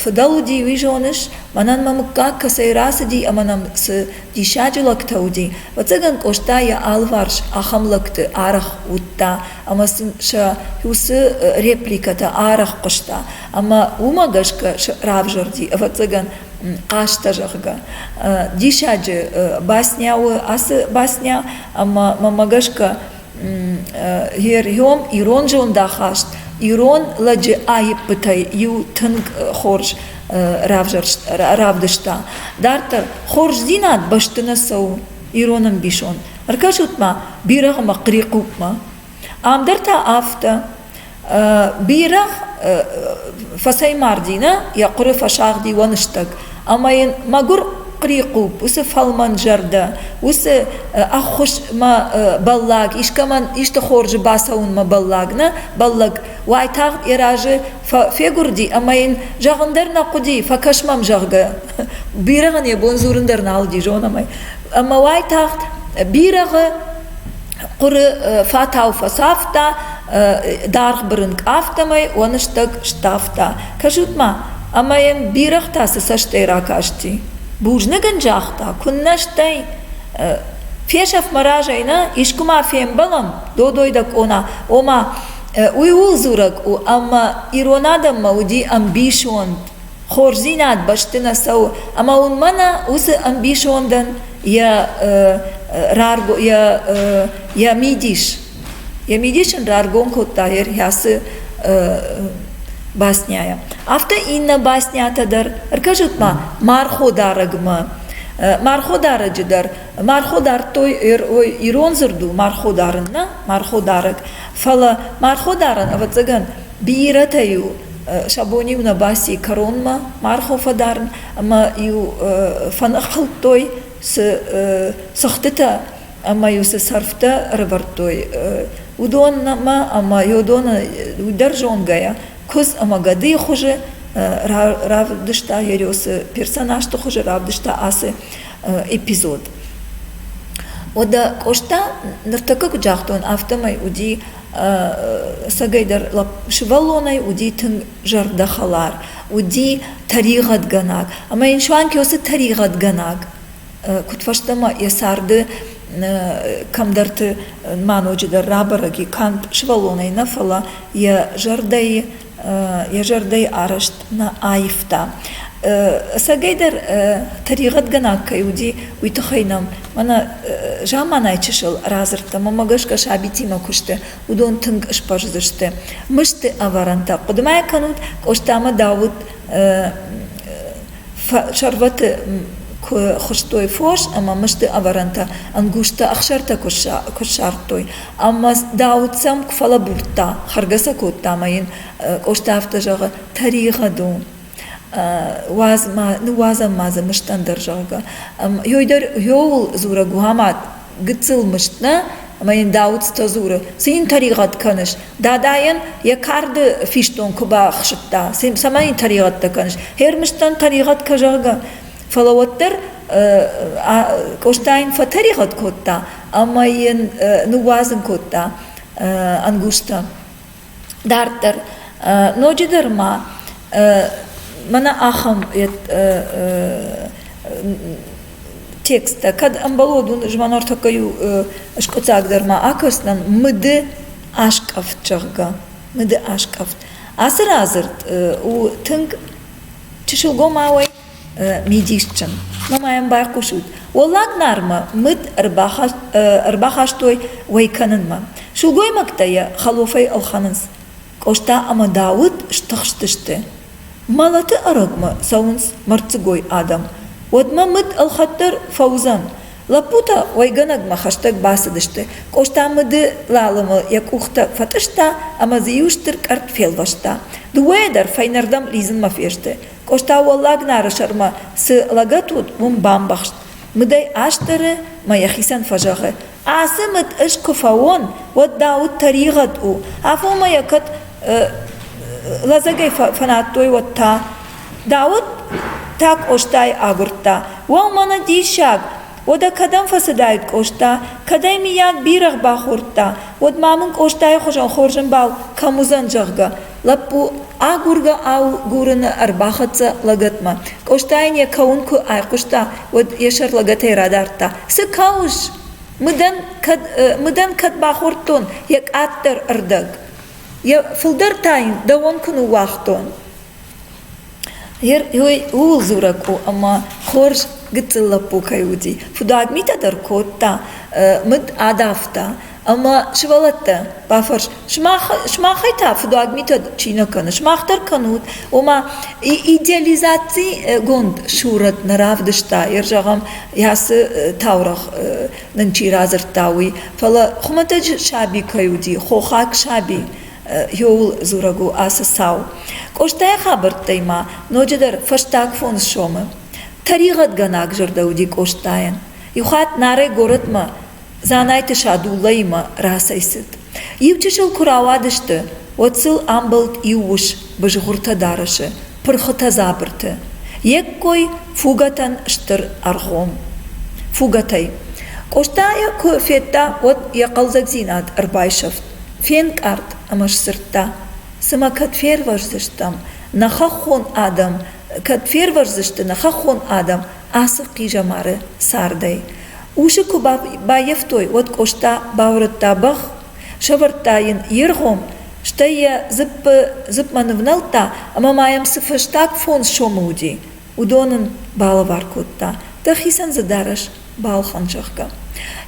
фыдӕл уыди, уый зоныс? Мӕнӕн мӕ мыггаг кӕцӕй рацыди ӕмӕ нӕм цы диссаджы лӕгтӕ уыди. Ӕвӕццӕгӕн Къоста йӕ алыварс ахӕм лӕгты арӕх уыдта ӕмӕ сын сӕ иу цы репликӕтӕ арӕх хъуыста. Ӕмӕ уымӕ гӕсгӕ равзӕрди, ӕвӕццӕгӕн, хъӕстӕ, зӕгъгӕ. Диссаджы басня у ацы басня, ӕмӕ мӕмӕ гӕсгӕ Герьом ирон зондахаст, ирон лӕджы аиппытӕй иу тынг хорз равдыста. Дарддӕр, хорздзинад бӕсты нӕ цӕуы ирон ӕмбисонд. Ӕркӕсут-ма бирӕгъы мӕ хърихъупмӕ. Ам дӕр та афтӕ. Бирӕ фӕцӕймарди нӕ, йӕ хъуыры фӕсагъди уӕныстӕг ӕмӕ йын мӕгуыр хърихъупп, уыцы фӕлмӕн зӕрдӕ, уыцы ӕххуысмӕ бӕллӕг, искӕмӕн исты хорзы бацӕуынмӕ бӕллӕг нӕ бӕллӕг уайтагъд йӕ разы фегуырди ӕмӕ йын зӕгъын дӕр нӕ хъуыди, фӕкӕс мӕм, зӕгъгӕ. Бирӕгъӕн йӕ бон дзурын дӕр нал уыди, зонӕм ӕй. Ӕмӕ уайтагъд бирӕгъы Хъуыры фатау фӕцавта, даргъ бырынкъ афтӕмӕй уаныстӕг сдавта. Кӕсут-ма, ӕмӕ йӕм бирӕгътӕ цы цӕстӕй ракасти. Бузныг ын загъта, куыннӕ стӕй. Фесӕф мӕ разӕй, нӕ? Искуы ма фембӕлӕм? Додой дӕ къона. Ома, уый ууыл дзурӕг у, ӕмӕ ирон адӕммӕ уыди ӕмбисонд хорздзинад бӕсты нӕ цӕуы ӕмӕ уын мӕнӕ уыцы ӕмбисондӕн йӕ йӕ мидис йӕ мидис ын раргом кодта йе рхӕцы басняйӕ афтӕ иннӕ баснятӕ дӕр ӕркӕсут ма марходарӕгмӕ марходарӕджы дӕр мархо дардтой ирон дзырд у мархо дарын нӕ марходарӕг фӕлӕ марходарӕн ӕвӕццӕгӕн Бирӕтӕ-иу сӕ бон-иу нӕ баци кӕронмӕ маргъ фӕдарын ӕмӕ-иу фӕныххуылдтой цы цыхтытӕ ӕмӕ-иу цы сӕрфтӕ ӕрӕвӕрдтой, уыдонмӕ ӕмӕ уыдоны уый дӕр зонгӕйӕ куыдз ӕмӕ гӕдыйы хуызы равдыста Ериосы персонажты хуызы равдыста ацы эпизод. Уӕдӕ Къоста ныртӕккӕ куыд загътон, афтӕмӕй уыди Сӕгӕйдӕр лӕп сывӕллонӕй уыди тынг зӕрдӕхӕлар, уыди тӕригъӕдгӕнаг. Ӕмӕ йын суанг йӕ уыцы тӕригъӕдгӕнаг куыдфӕстӕмӕ йӕ царды кӕмдӕрты ма ноджыдӕр рабӕрӕг и, канд сывӕллонӕй нӕ, фӕлӕ йӕ зӕрдӕйы йӕ зӕрдӕйы арӕзт нӕ аивта. Ӕцӕгӕйдӕр тӕригъӕдгӕнаг кӕй уыди, уый тыххӕй нӕм мӕнӕ заманайы чысыл радзырдтӕм ӕмӕ гӕсгӕ сабитимӕ куы сты, уыдон тынг сбӕздзысты. Мысты ӕвӕрӕнтӕ. Хъуыды ма кӕнут, Къостамӕ Дауыт сӕрвӕты куы хуыстой фос ӕмӕ мысты ӕвӕрӕнтӕ, ӕнгузтӕ, ӕхсӕртӕ куы ссардтой, ӕмӕ Дауыт сӕм куы фӕлӕбурдта, хӕргӕ сӕ кодта ӕмӕ йын Къоста афтӕ зӕгъы: тӕригъӕд у, уадз ма, ныууадзӕм ма дзы мыстӕн дӕр, зӕгъгӕ. Йой дӕр йоуыл дзурӕг у, ама гыццыл мыст нӕ? Ӕмӕ йын Дауыцтӕ дзуры: цы йын тӕригъӕд кӕныс? Дадайӕн йӕ карды фистон куы бахсыдта, цӕмӕй йын тӕригъӕдтӕ кӕныс? Хӕрмыстӕн тӕригъӕд кӕ, зӕгъгӕ. Фӕлӕ уӕддӕр Къостайын фӕтӕригъӕд кодта ӕмӕ йын ныууадзын кодта ӕнгузтӕ. Дарддӕр ноджыдӕр ма мӕнӕ ахӕм тексттӕ, кӕд ӕмбӕлод уын змӕнортӕккӕй у скъуыддзагдӕр ма акӕсдзӕн, мыды аскъӕфт, зӕгъгӕ, мыды аскъӕфт. Ацы радзырд у тынг чысылгомауӕй мидисджын ӕмӕ ма йӕм байхъусут Уӕллаг Нармӕ мыд ӕрбахастой уӕй кӕнынмӕ. Сылгоймӕгтӕ йӕ хӕлофӕй ӕлхӕнынц. Къоста ӕмӕ Дауыт стыхстысты. Мӕлӕты ӕрӕгмӕ цӕуынц мӕрддзыгой адӕм. Уӕдмӕ мыд ӕлхӕд дӕр фӕуыдзӕн. Лӕппутӕ уӕйгӕнӕгмӕ хӕстӕг бацыдысты. Къоста мыды лалымы йӕ къухтӕ фӕтъыста ӕмӕ дзы иу стыр къӕртт фелвӕста. Дыууӕйӕ дӕр фӕйнӕрдӕм лидзынмӕ фесты. Къоста Уӕллаг Нары сӕрмӕ цы лӕгӕт уыд, уым бамбӕхст. Мыдӕй астӕры мӕ йӕхицӕн фӕзӕгъы, Ацы мыд ӕз куы фӕуон, уӕд дӕ уд тӕригъӕд у, афонмӕ йӕ кӕд лӕдзӕгӕй фӕнадтой, уӕд та. Дауыт та Къостайы агуырдта. Уӕу, мӕнӕ диссаг! Уӕдӕ кӕдӕм фӕцыдаид Къоста? Кӕдӕй, миййаг, бирӕгъ бахордта? Уӕд ма мын Къостайы хуызӕн хорз ӕмбал кӕм уыдзӕн, зӕгъгӕ. Лӕппу агургӕ-агурыны ӕрбахӕццӕ лӕгӕтмӕ. Къостайӕн йӕ кӕуын куы айхъуыста, уӕд йӕ сӕр лӕгӕтӕй радардта. – Цы кӕуыс? Мыдӕн кӕд бахордтон йӕ къаддӕр ӕрдӕг? Йӕ фылдӕр та йын дӕуӕн куы ныууагътон. Герой ууыл дзурӕг у, ӕмӕ хорз гыццыл лӕппу кӕй уыди. Худӕг митӕ дӕр кодта, мыд адавта. Ӕмӕ сывӕллӕттӕ, бафӕрс, сымах, сымахӕй та фыдуаг митӕ чи нӕ кӕны, сымах дӕр кӕнут. Ома, идеализацигонд сурӕт нӕ равдыста, йӕ зӕгъӕм, йӕ цы таурӕгъ нын чи радзырдта, уый. Фӕлӕ хуымӕтӕджы саби кӕй уыди, хохаг саби, ёуыл дзурӕг у ацы цау. Къостайы хабӕрттӕй ма ноджыдӕр фӕстаг фондз сомы тӕригъӕдгӕнаг зӕрдӕ уыди Къостайӕн. Иу хатт Нарӕй горӕтмӕ Дзанайты Садуллӕимӕ рацӕйцыд. Иу чысыл куы рауадысты, уӕд сыл амбӕлд иу ус бызгъуыртӕ дарӕсы, пырхытӕ дзабырты. Йе ккой фугӕтӕн стыр ӕргъом. Фугӕтӕй. Къостайы куы федта, уӕд йӕ хъӕлдзӕгдзинад ӕрбайсӕфт. фенкъард ӕмӕ сдзырдта: Цымӕ кӕд фервӕздзыстӕм, нӕ хӕххон адӕм, кӕд фервӕздзысты нӕ хӕххон адӕм ацы хъизӕмары цардӕй? Усы куы баййӕфтой, уӕд Къоста баурӕдта бӕх, сӕвӕрдта йын йе ргъом, стӕй йӕ дзыппмӕ нывнӕлдта ӕмӕ ма йӕм цы фӕстаг фондз сомы уыди. уыдон ын балӕвар кодта, дӕхицӕн дзы дарӕс балхӕн, зӕгъгӕ.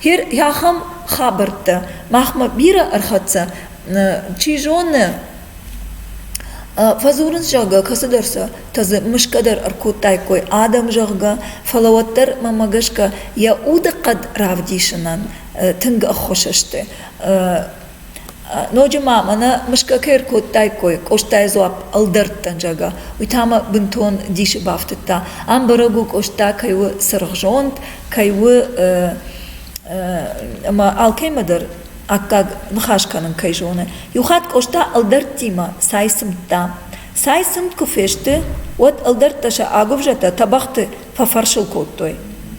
Гъе ахӕм хабӕрттӕ махмӕ бирӕ ӕрхӕццӕ. Чи зоны, фӕдзурынц, зӕгъгӕ, кӕцыдӕр сӕ тӕдзы мысгӕ дӕр ӕркодтаиккой адӕм, зӕгъгӕ, фӕлӕ уӕддӕр мӕнмӕ гӕсгӕ йӕ удыхъӕд равдисынӕн тынг ӕххуыс сты. Ноджы ма мӕнӕ мысгӕ кӕй ӕркодтаиккой Къостайы дзуапп ӕлдӕрттӕн, зӕгъгӕ, уый та мӕ бынтон дисы бафтыдта. ам бӕрӕг у Къоста кӕй у цыргъзонд, кӕй у ӕмӕ алкӕимӕ дӕр аккаг ныхас кӕнын кӕй зоны. Иу хатт Къоста ӕлдӕрттимӕ цай сымдта. Цай сымд куы фесты, уӕд ӕлдӕрттӕ сӕ агуывзӕтӕ тӕбӕгъты фӕфӕрсыл кодтой.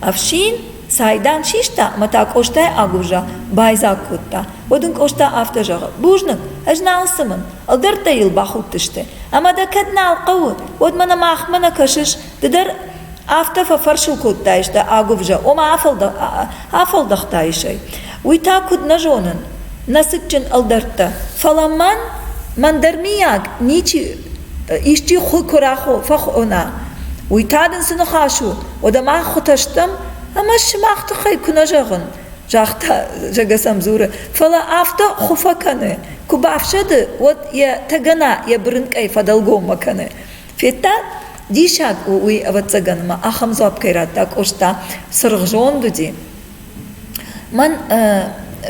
Ӕфсин цайдан систа мӕ та Къостайы агуывзӕ байдзаг кодта. Уӕд ын Къоста афтӕ зӕгъы: Бузныг, ӕз нал цымын, ӕлдӕрттӕ йыл бахудтысты. Ӕмӕ дӕ кӕд нал хъӕуы, уӕд мӕнӕ махмӕ нӕ кӕсыс, ды дӕр афтӕ фӕфӕрсыл кодтаис дӕ агуывзӕ, ома афӕлдӕхтаис ӕй. Уый та куыд нӕ зонын, нӕ цытджын ӕлдӕрттӕ, фӕлӕ мӕн, мӕн дӕр мийаг ничи исчи хуы куы фӕхона, уый та дын цы ныхас у? Уӕдӕ мах хуытӕ стӕм ӕмӕ сымах тыххӕй куы нӕ зӕгъын, загъта Жӕгӕсӕм дзуры, фӕлӕ афтӕ хуы фӕкӕны, куы бафсӕды, уӕд йӕ тӕгӕна йӕ бырынкъӕй фӕдӕлгоммӕ кӕны. Федта, диссаг у уый ӕвӕццӕгӕн ӕмӕ ахӕм дзуапп кӕй радта Къоста, цыргъ зонд уыди. Мӕн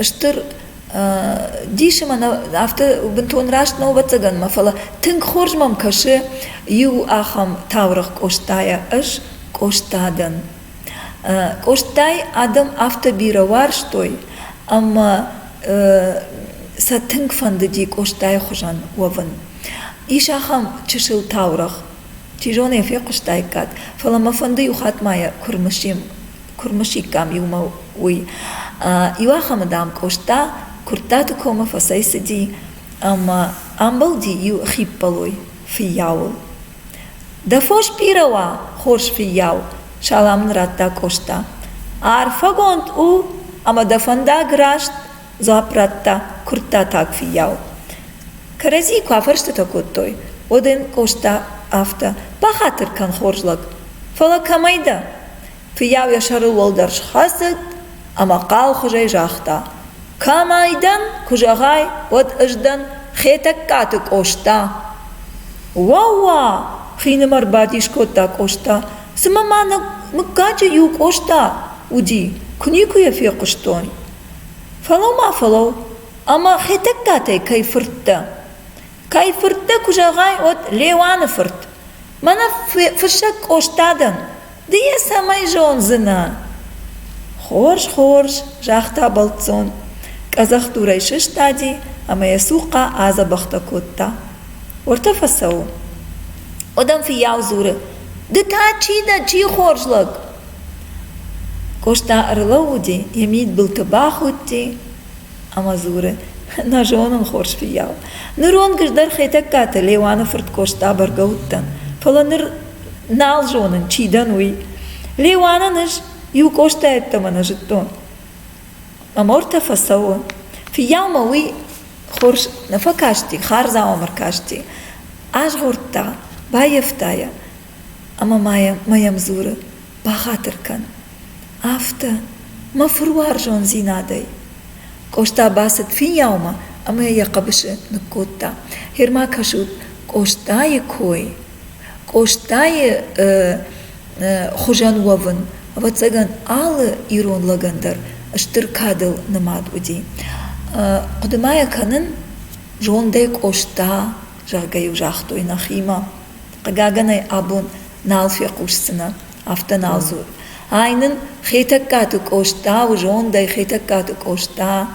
стыр дисы мӕ афтӕ бынтон раст нӕу ӕвӕццӕгӕн мӕ фӕлӕ тынг хорз мӕм кӕсы иу ахӕм таурӕгъ Къостайӕ ӕз Къоста дӕн Къостайы адӕм афтӕ бирӕ уарзтой ӕмӕ сӕ тынг фӕндыди Къостайы хуызӕн уӕвын ис ахӕм чысыл таурӕгъ чи зоны йӕ фехъуыстаиккат фӕлӕ мӕ фӕнды иу хатт ма йӕ куы рымысим куырмысиккам иумӕ уый. Иуахӕмы, дам, Къоста Куырттаты комы фӕцӕйцыди ӕмӕ амбылди иу хиппӕлой фыййауыл. Дӕ фос бирӕ уа, хорз фыййау, салам ын радта Къоста. Арфӕгонд у ӕмӕ дӕ фӕндаг раст, дзуапп радта куырттатаг фыййау. Кӕрӕдзийы куы афӕрстытӕ кодтой, уӕд ын Къоста афтӕ: «Бахатыр кӕн, хорз лӕг, фӕлӕ кӕмӕй дӕ?» Фыййау йӕ сӕрыл уӕлдӕр схӕцыд ӕмӕ хъалхуызӕй загъта: — Кӕмӕй дӕн, куы зӕгъай, уӕд ӕз дӕн Хетӕгкаты Къоста. — Уӕ-уа! — хинымӕр бадис кодта Къоста. — Цымӕ ма нӕ мыггаджы иу Къоста уыди, куы никуы йӕ фехъуыстон? — Фӕлӕу ма фӕлӕу, ӕмӕ Хетӕгкатӕй кӕй фырт дӕ? Кӕй фырт дӕ, куы зӕгъай, уӕд Леуаны фырт. Мӕнӕ фыссӕг Къоста дӕн. Ды йӕ цӕмӕй зондзынӕ? — Хорз, хорз, — загъта бӕлццон, къӕдзӕхдурӕй сыстади ӕмӕ йӕ цухъхъа адзӕбӕхтӕ кодта. — Уӕртӕ фӕцӕуы. Уӕдӕм фыййау дзуры: — Ды та чи дӕ, чи хорз лӕг? Къоста ӕрлӕууыди, йӕ мидбылты бахудти. Ӕмӕ дзуры, Нӕ зонын, хорз фыййау, ныронг ӕз дӕр Хетӕгкаты Леуаны фырт Къоста бӕргӕ уыдтӕн, фӕлӕ ныр нал зонын, чи дӕн, уый. Леуанӕн ӕз иу Къоста йеддӕмӕ нӕ зыдтон. Ӕмӕ ортӕ фӕцӕуы. Фыййаумӕ уый хорз нӕ фӕкасти, хардзау ӕм ӕркасти. Азгъордта, баййӕфта йӕ, Ӕмӕ ма йӕм дзуры: «Бахатыр кӕн, афтӕ, мӕ фыруарзондзинадӕй!» Къоста бацыд фиййаумӕ ӕмӕ йӕ йӕ хъӕбысы ныккодта. «Гьер-ма кӕсут Къостайы кой, Къостайы хуызӕн уӕвын. ӕвӕццӕгӕн, алы ирон лӕгӕн дӕр стыр кадыл нымад уыди. хъуыды ма йӕ кӕнын, зондӕй Къоста, зӕгъгӕ-иу загътой нӕхимӕ. Хъыгагӕн ӕй абон нал фехъусдзынӕ, афтӕ нал дзуры. Ай нын Хетӕгкаты Къоста у зондӕй Хетӕгкаты Къоста,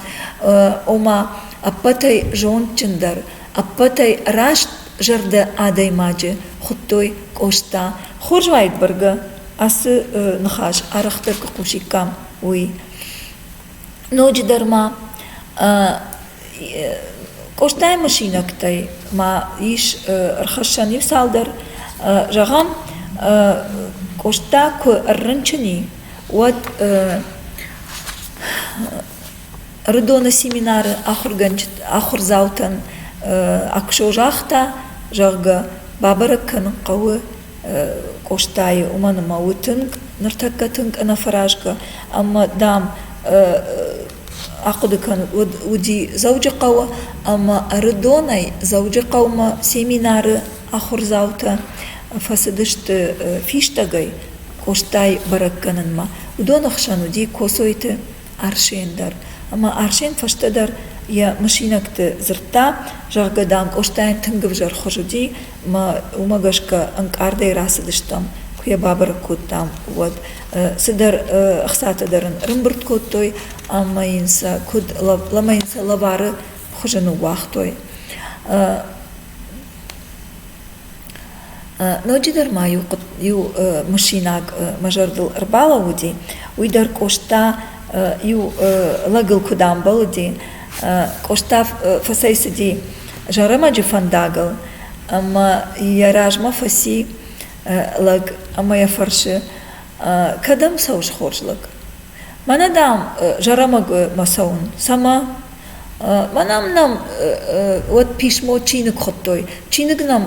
ома ӕппӕтӕй зондджындӕр, ӕппӕтӕй раст зӕрдӕ адӕймаджы хуыдтой Къоста. Хорз уаид бӕргӕ ацы ныхас арӕхдӕр куы хъусиккам, уый. Ноджыдӕр ма Къостайы мысинӕгтӕй ма ис ӕрхӕссӕн иу цалдӕр. Зӕгъӕм, Къоста куы ӕррынчыни, уӕд Рыдоны семинары ахуырдзаутӕн куы созагъта, зӕгъгӕ, бабӕрӕг кӕнын хъӕуы Къостайы, уымӕн ӕмӕ у тынг, ныртӕккӕ тынг ӕнӕфӕразгӕ ӕмӕ, дам, ахъуыды кӕнут, уӕд уыди Дзӕуджыхъӕуы ӕмӕ Ӕрыдонӕй Дзӕуджыхъӕумӕ семинары ахуырдзаутӕ фӕцыдысты фистӕгӕй Къостайы бӕрӕг кӕнынмӕ. Уыдоны хсӕн уыди Коцойты Арсен дӕр. Ӕмӕ Арсен фӕстӕдӕр йӕ мысинӕгты дзырдта, зӕгъгӕ, дам, Къостайӕн тынг ӕвзӕр хуыз уыди, ӕмӕ уымӕ гӕсгӕ ӕнкъардӕй рацыдыстӕм, куы йӕ бабӕрӕг кодтам, уӕд. Цыдӕр ӕхцатӕ дӕр ын рымбырд кодтой ӕмӕ йын сӕ куыд ӕмӕ йын сӕ лӕвары хуызы ныууагътой. Ноджыдӕр ма иу мысинаг мӕ зӕрдыл ӕрбалӕууыди, уый дӕр Къоста иу лӕгыл куыд амбӕлыди. Къоста фӕцӕйцыди Зӕрӕмӕджы фӕндагыл ӕмӕ йӕ размӕ фӕци лӕг ӕмӕ йӕ фӕрсы: кӕдӕм цӕуыс, хорз лӕг? Мӕнӕ дӕм Зӕрӕмӕгмӕ цӕуын. Цӕмӕ? Мӕнӕ нӕм уӕд писмо чиныг хуыдтой. Чиныг нӕм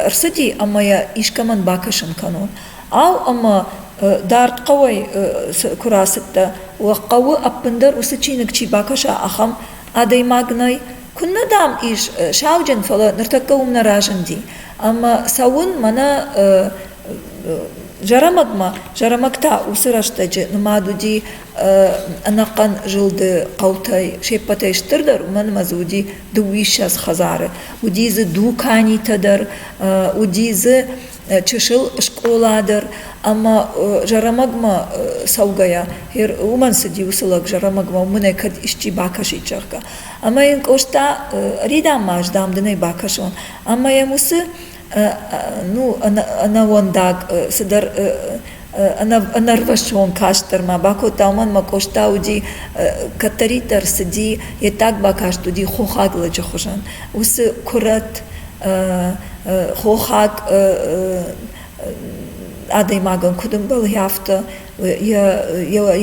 ӕрцыди ӕмӕ йӕ искӕмӕн бакӕсын кӕнон. Ау, ӕмӕ дард хъӕуӕй куы рацыдтӕ, уӕ хъӕуы ӕппындӕр уыцы чиныг чи бакӕса, ахӕм адӕймаг нӕй? Куыннӕ, дам, ис сауджын, фӕлӕ ныртӕккӕ уым нӕ разынди. Ӕмӕ цӕуын мӕнӕ Зӕрӕмӕгмӕ. Зӕрӕмӕг та уыцы рӕстӕджы нымад уыди ӕнӕхъӕн зылды хъӕутӕй се ппӕтӕй стырдӕр уымӕн ӕмӕ дзы уыди дыууиссӕдз хӕдзары, уыди дзы дуканитӕ дӕр, уыди дзы чысыл скъола дӕр ӕмӕ зӕрӕмӕгмӕ цӕугӕйӕ уымӕн цыди уыцы лӕг зӕрӕмӕгмӕ уым ын кӕд исчи бакӕсид, зӕгъгӕ. Ӕмӕ йын Къоста ӕридам ма ӕз, дам, дын ӕй бакӕсон. Ӕмӕ йӕм уыцы ну ӕнӕуӕндаг цыдӕр ӕнӕрвӕссон каст дӕр ма бакодта уымӕн ӕмӕ Къоста уыди кӕддӕриддӕр цыди йе ддаг бакаст уыди хохаг лӕджы хуызӕн уыцы куырӕт хохаг адӕймагӕн куыд ӕмбӕлы афтӕ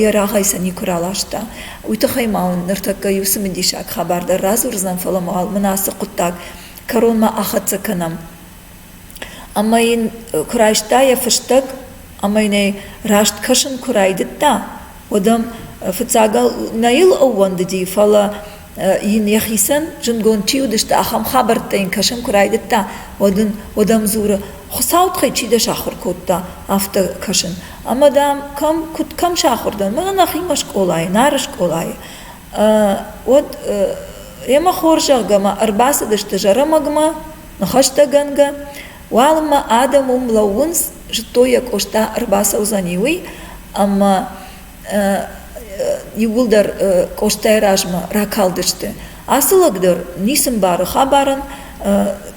йӕ рагъӕй сӕ никуы раласта уый тыххӕй ма ныртӕккӕ иу цымыдисаг хабар дӕр радзурдзынӕн фӕлӕ мын ацы хъуыддаг кӕронмӕ ахӕццӕ кӕнӕм. Ӕмӕ йын куы райста йӕ фыстӕг, ӕмӕ йын ӕй раст кӕсын куы райдыдта, уӕд ӕм фыццагыл нӕ йыл ӕууӕндыди, фӕлӕ йын йӕхицӕн зындгонд чи уыдысты, ахӕм хабӕрттӕ йын кӕсын куы райдыдта, уӕд ын уӕд ӕм дзуры, Хуыцауы тыххӕй чи дӕ сахуыр кодта, афтӕ кӕсын. Ӕмӕ, дам, кӕм, куыд кӕм сахуыр дӕн? Мӕнӕ нӕхимӕ скъолайы, Нары скъолайы. уӕд йемӕ хорзӕхгӕмӕ ӕрбацыдысты зӕрӕмӕгмӕ ныхӕстӕгӕнгӕ. Уалынмӕ адӕм уым лӕууынц, зыдтой йӕ Къоста ӕрбацӕудзӕни, уый. Ӕмӕ иууылдӕр Къостайы размӕ ракалдысты. Ацы лӕг дӕр ницы мбары хабарӕн.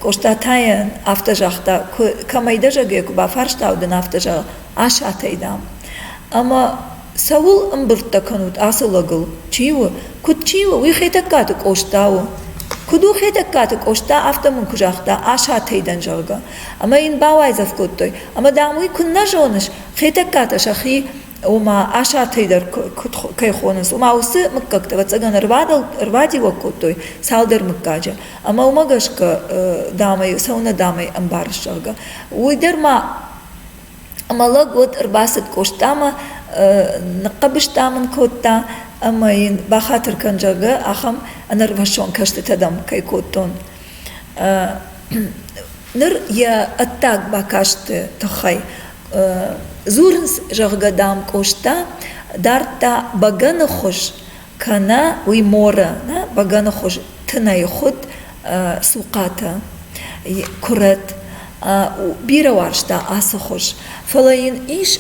Къоста та йын афтӕ загъта: кӕмӕй дӕ зӕгӕй куы бафарстау, дын афтӕ зӕгъ: асатӕй, дам. Ӕмӕ цӕуыл ӕмбырдтӕ кӕнут ацы лӕгыл чи у куыд чи у уый хетӕгкаты къоста у куыд у хетӕгкаты къоста афтӕ мын куы загъта асатӕй дӕн зӕгъгӕ ӕмӕ йын бауайдзӕф кодтой ӕмӕ дам уый куыннӕ зоныс хетӕгкатӕ сӕхи ома асатӕй дӕр кӕй хонынц ома уыцы мыггӕгтӕ ӕвӕццӕгӕн ӕрбадиуӕг кодтой цалдӕр мыггаджы ӕмӕ уымӕ гӕсгӕ дам ӕй сӕуынӕ дам ӕй ӕмбарыс зӕгъгӕ уый дӕр ма Ӕмӕ лӕг уӕд ӕрбацыд Къостамӕ, ныхъхъӕбыстӕ мын кодта ӕмӕ йын бахатыр кӕн, зӕгъгӕ, ахӕм ӕнӕрвӕссон кӕстытӕ дӕм кӕй кодтон. Ныр йӕ ӕддаг бакасты тыххӕй дзурынц, зӕгъгӕ, дам, Къоста дардта бӕгӕныхуыз кӕнӕ уый моры бӕгӕныхуыз тынӕй хуыд цухъатӕ куырӕт бирӕ уарзта ацы хуыз фӕлӕ йын ис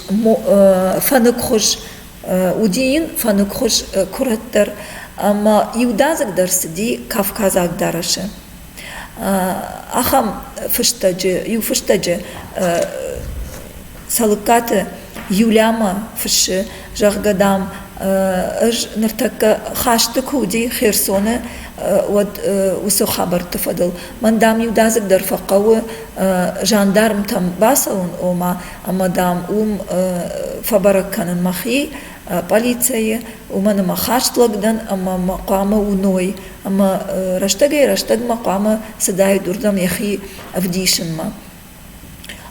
фӕныкхуыз уыди йын фӕныкхуыз куырӕт дӕр ӕмӕ иудадзыг дӕр цыди кавказаг дарӕсы ахӕм фыстӕджы иу фыстӕджы цӕлыккаты юлямӕ фыссы зӕгъгӕ дам ӕз ныртӕккӕ хӕсты куы уыди херсоны уӕд уыцы хабӕртты фӕдыл мӕн дам иудадзыгдӕр фӕхъӕуы жандармтӕм бацӕуын ома ӕмӕ дам уым фӕбӕрӕг кӕнын мӕхи пъӕлицӕйы, уымӕн ӕмӕ хӕст лӕг дӕн ӕмӕ мӕ хъуамӕ уыной, ӕмӕ рӕстӕгӕй-рӕстӕгмӕ хъуамӕ цыдаид уырдӕм йӕхи ӕвдисынмӕ.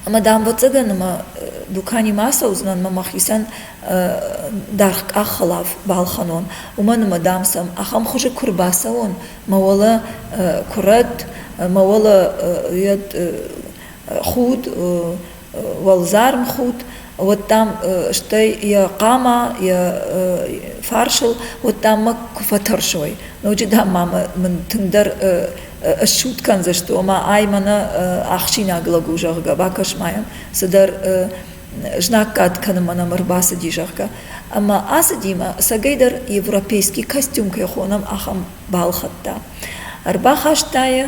Ӕмӕ дамбӕццӕгӕн ӕмӕ дуканимӕ ацӕудзынӕн ӕмӕ мӕхицӕн даргъ къаххӕлаф балхӕнон, уымӕн ӕмӕ, дам, сӕм ахӕм хуызы куы рбацӕуон, мӕ уӕлӕ куырӕт, мӕ уӕлӕ йӕ худ, уӕлдзарм худт, уӕд дам, стӕй йӕ хъама йӕ фарсыл, уӕд дам мӕ куы фӕтӕрсой. Ноджы, дам, ма мын тынгдӕр ссуд кӕндзысты, ома ай мӕнӕ ӕхсинаг лӕг у, зӕгъгӕ, бакӕс ма йӕм, цыдӕр знаггад кӕнынмӕ нӕм ӕрбацыди, зӕгъгӕ. Ӕмӕ ацыдимӕ сӕгӕйдӕр европейский костюм кӕй хонӕм, ахӕм балхӕдта. Ӕрбахаста йӕ,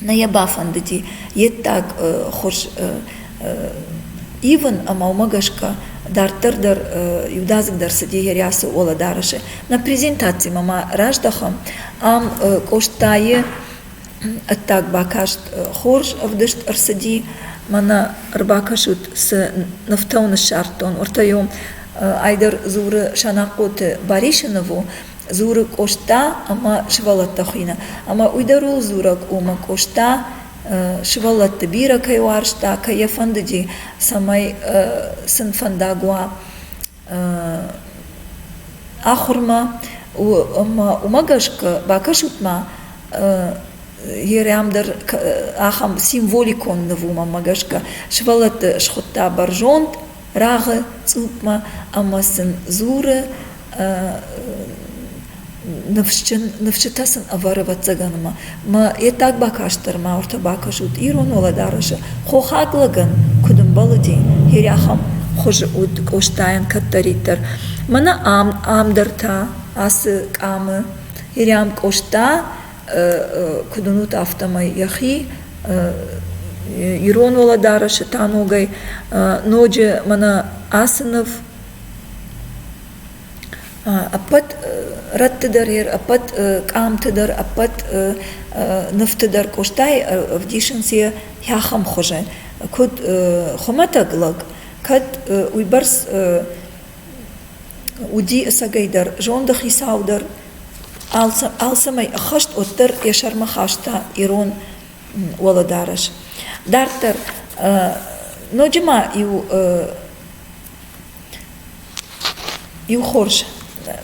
Нӕ йӕ бафӕндыди йе ддаг хуыз ивын ӕмӕ уымӕ гӕсгӕ дарддӕр дӕр иудадзыгдӕр цыди йӕ рӕсы Оладарысы. Нӕ презентацимӕ ма раздӕхӕм. Ам Къостайы ӕддаг бакаст хорз ӕвдыст ӕрцыди. Мӕнӕ ӕрбакӕсут, цы нывтӕ ныссардтон. Уӕртӕ-иу ай дӕр дзуры Санахъоты Барисыны у, дзуры Къоста ӕмӕ сывӕллӕттӕ хуыйны, ӕмӕ уый дӕр ууыл дзурӕг у, мӕ Къоста сывӕллӕтты бирӕ кӕй уарзта, кӕй йӕ фӕндыди, цӕмӕй сын фӕндаг уа ахуырмӕ. Ӕмӕ уымӕ гӕсгӕ бакӕсут-ма, Ерӕм дӕр ахӕм символикон ныв у, мӕнмӕ гӕсгӕ. Сывӕллӕтты схуыдта бӕрзонд рагъы цъупмӕ ӕмӕ сын дзуры ныфсджын ныфсджытӕ сын ӕвӕры ӕвӕццӕгӕн ӕмӕ мӕ йе ддаг бакастдӕр ма уыртӕ бакӕсут ирон уӕлӕдарӕсы хохаг лӕгӕн куыд ӕмбӕлыди хири ахӕм хуызы уыд къостайӕн кӕддӕриддӕр мӕнӕ ам ам дӕр та ацы къамы хири ам къоста куыд уынут, афтӕмӕй йӕхи ирон уӕлӕдарӕсы та ногӕй ноджы мӕнӕ ацы ныв ӕппӕт рӕтты дӕр йер, ӕппӕт къамты дӕр, ӕппӕт нывты дӕр Къостайы ӕвдисынц йӕ хӕххӕм хуызӕн. Куыд хуымӕтӕг лӕг, кӕд уыйбӕрц уыди ӕцӕгӕйдӕр зонды хицау дӕр, Алцӕмӕй ӕххӕст уӕддӕр йӕ сӕрмӕ хаста ирон уӕлӕдарӕс. Дарддӕр ноджы ма иу иу хорз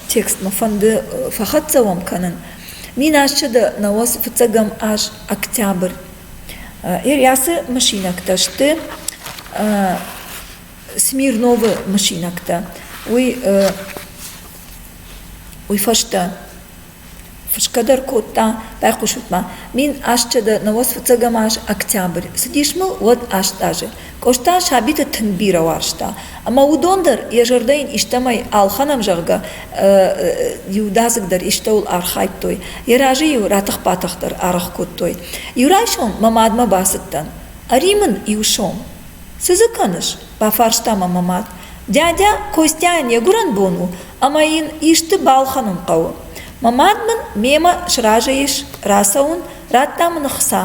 текстмӕ фӕнды фӕхӕццӕ уӕм кӕнын. Мин азчы дӕ науӕцы фыццӕгӕм аз октябрь. Ильясы мысинӕгтӕ сты Смирновы мысинӕгтӕ. Уый уый фӕстӕ фысгӕ дӕр кодта, байхъусут ма, мин асчъӕдӕ науӕс фыццӕгӕм аз октябрь. Цыдис мыл уӕд аст азы. Къоста сабиты тынг бирӕ уарзта, ӕмӕ уыдон дӕр йӕ зӕрдӕйын истӕмӕй алхӕнӕм, зӕгъгӕ, иудадзыгдӕр истӕуыл архайдтой, йӕ разы-иу ратых-батых дӕр аргъ кодтой. Иу райсом мӕ мадмӕ бацыдтӕн. Ӕри мын иу сом. Цы дзы кӕныс? – бафарста мӕ мӕ мад. – Дядя Костяйӕн йӕ гуырӕн бон у, ӕмӕ йын исты балхӕнын хъӕуы. Мӕ мад мын мемӕ сразы ис, рацӕуын, радта мын ӕхца.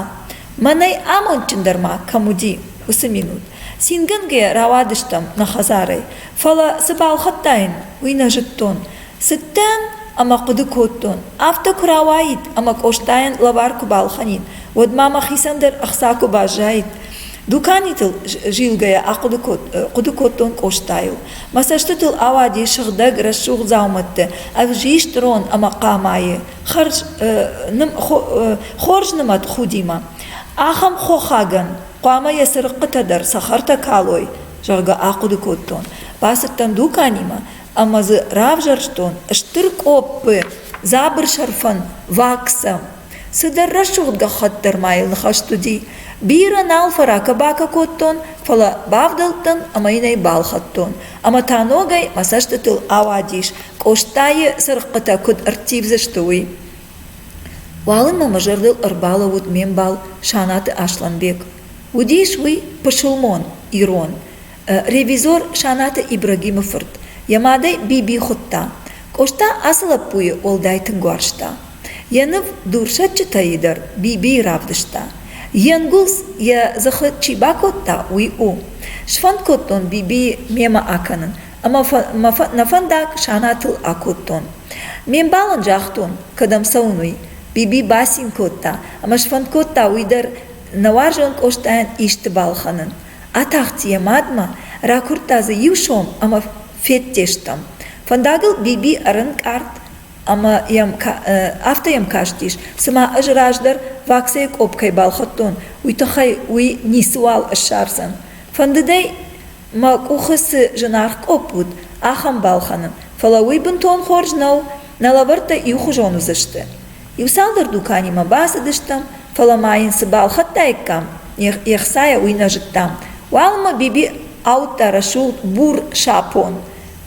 Мӕнӕй амондджындӕр ма кӕм уыди, уыцы минут. Цингӕнгӕ рауадыстӕм нӕ хӕдзарӕй, фӕлӕ цы балхӕдтаин, уый нӕ зыдтон. Цыдтӕн ӕмӕ хъуыды кодтон, афтӕ куы рауаид ӕмӕ Къостайӕн лӕвар куы балхӕнин, уӕд ма мӕхицӕн дӕр ӕхца куы баззаид. Дуканитыл зилгӕйӕ ахъуыды кодтон Къостайыл. Мӕ цӕстытыл ауади сыгъдӕг рӕсугъд дзаумӕтты ӕвзист рон ӕмӕ хъамайы хӕрз хорз нымӕт худимӕ. Ахӕм хохагӕн хъуамӕ йӕ цырыхъхъытӕ дӕр цӕхӕртӕ калой, зӕгъгӕ, ахъуыды кодтон. Бацыдтӕн дуканимӕ ӕмӕ дзы равзӕрстон стыр къоппы дзабыр сӕрфӕн ваксӕ. цыдӕр рӕсугъд гӕххӕтт дӕр ма йыл ныхӕст уыди бирӕ нал фӕракӕ-бакӕ кодтон фӕлӕ бавдӕлдтӕн ӕмӕ йын ӕй балхӕдтон ӕмӕ та ногӕй мӕ цӕстытыл ауадис къостайы цырыхъхъытӕ куыд ӕрттивдзысты уый уалынмӕ мӕ зӕрдыл ӕрбалӕууыд ме мбал санаты аслӕнбег уыдис уый пысылмон ирон ревизор Санаты Ибрагимы фырт йӕ мадӕй Биби хуыдта. Къоста ацы лӕппуйы уӕлдай тынг уарзта. Йӕ ныв Дурсӕдджытӕ-йы дӕр Бибийы равдыста. Йе нгуылдз йӕ дзыхы чи бакодта, уый у. Сфӕнд кодтон Бибийы мемӕ акӕнын, ӕмӕ мӕ фӕндаг Санатыл акодтон. Ме мбал ын загътон, кӕдӕм цӕуын, уый. Биби бацин кодта ӕмӕ сфӕнд кодта уый дӕр нӕ уарзон Къостайӕн исты балхӕнын. Атахт йӕ мадмӕ, ракуырдта дзы иу сом ӕмӕ федтестӕм. Фӕндагыл Биби ӕрӕнкъард ӕмӕ йӕм афтӕ йӕм кастис, цыма ӕз раздӕр ваксӕйы къопп кӕй балхӕдтон, уый тыххӕй уый ницыуал ссардзӕн. Фӕндыдӕй, мӕ къухы цы зынаргъ къопп уыд, ахӕм балхӕнын, фӕлӕ уый бынтон хорз нӕу, нӕ лӕвӕрттӕ иухуызон уыдзысты. Иуцалдӕр дуканимӕ бацыдыстӕм, фӕлӕ ма йын цы балхӕдтаиккам, ехсайӕ уый нӕ зыдтам. Уалынмӕ Биби ауыдта рӕсугъд бур сапон.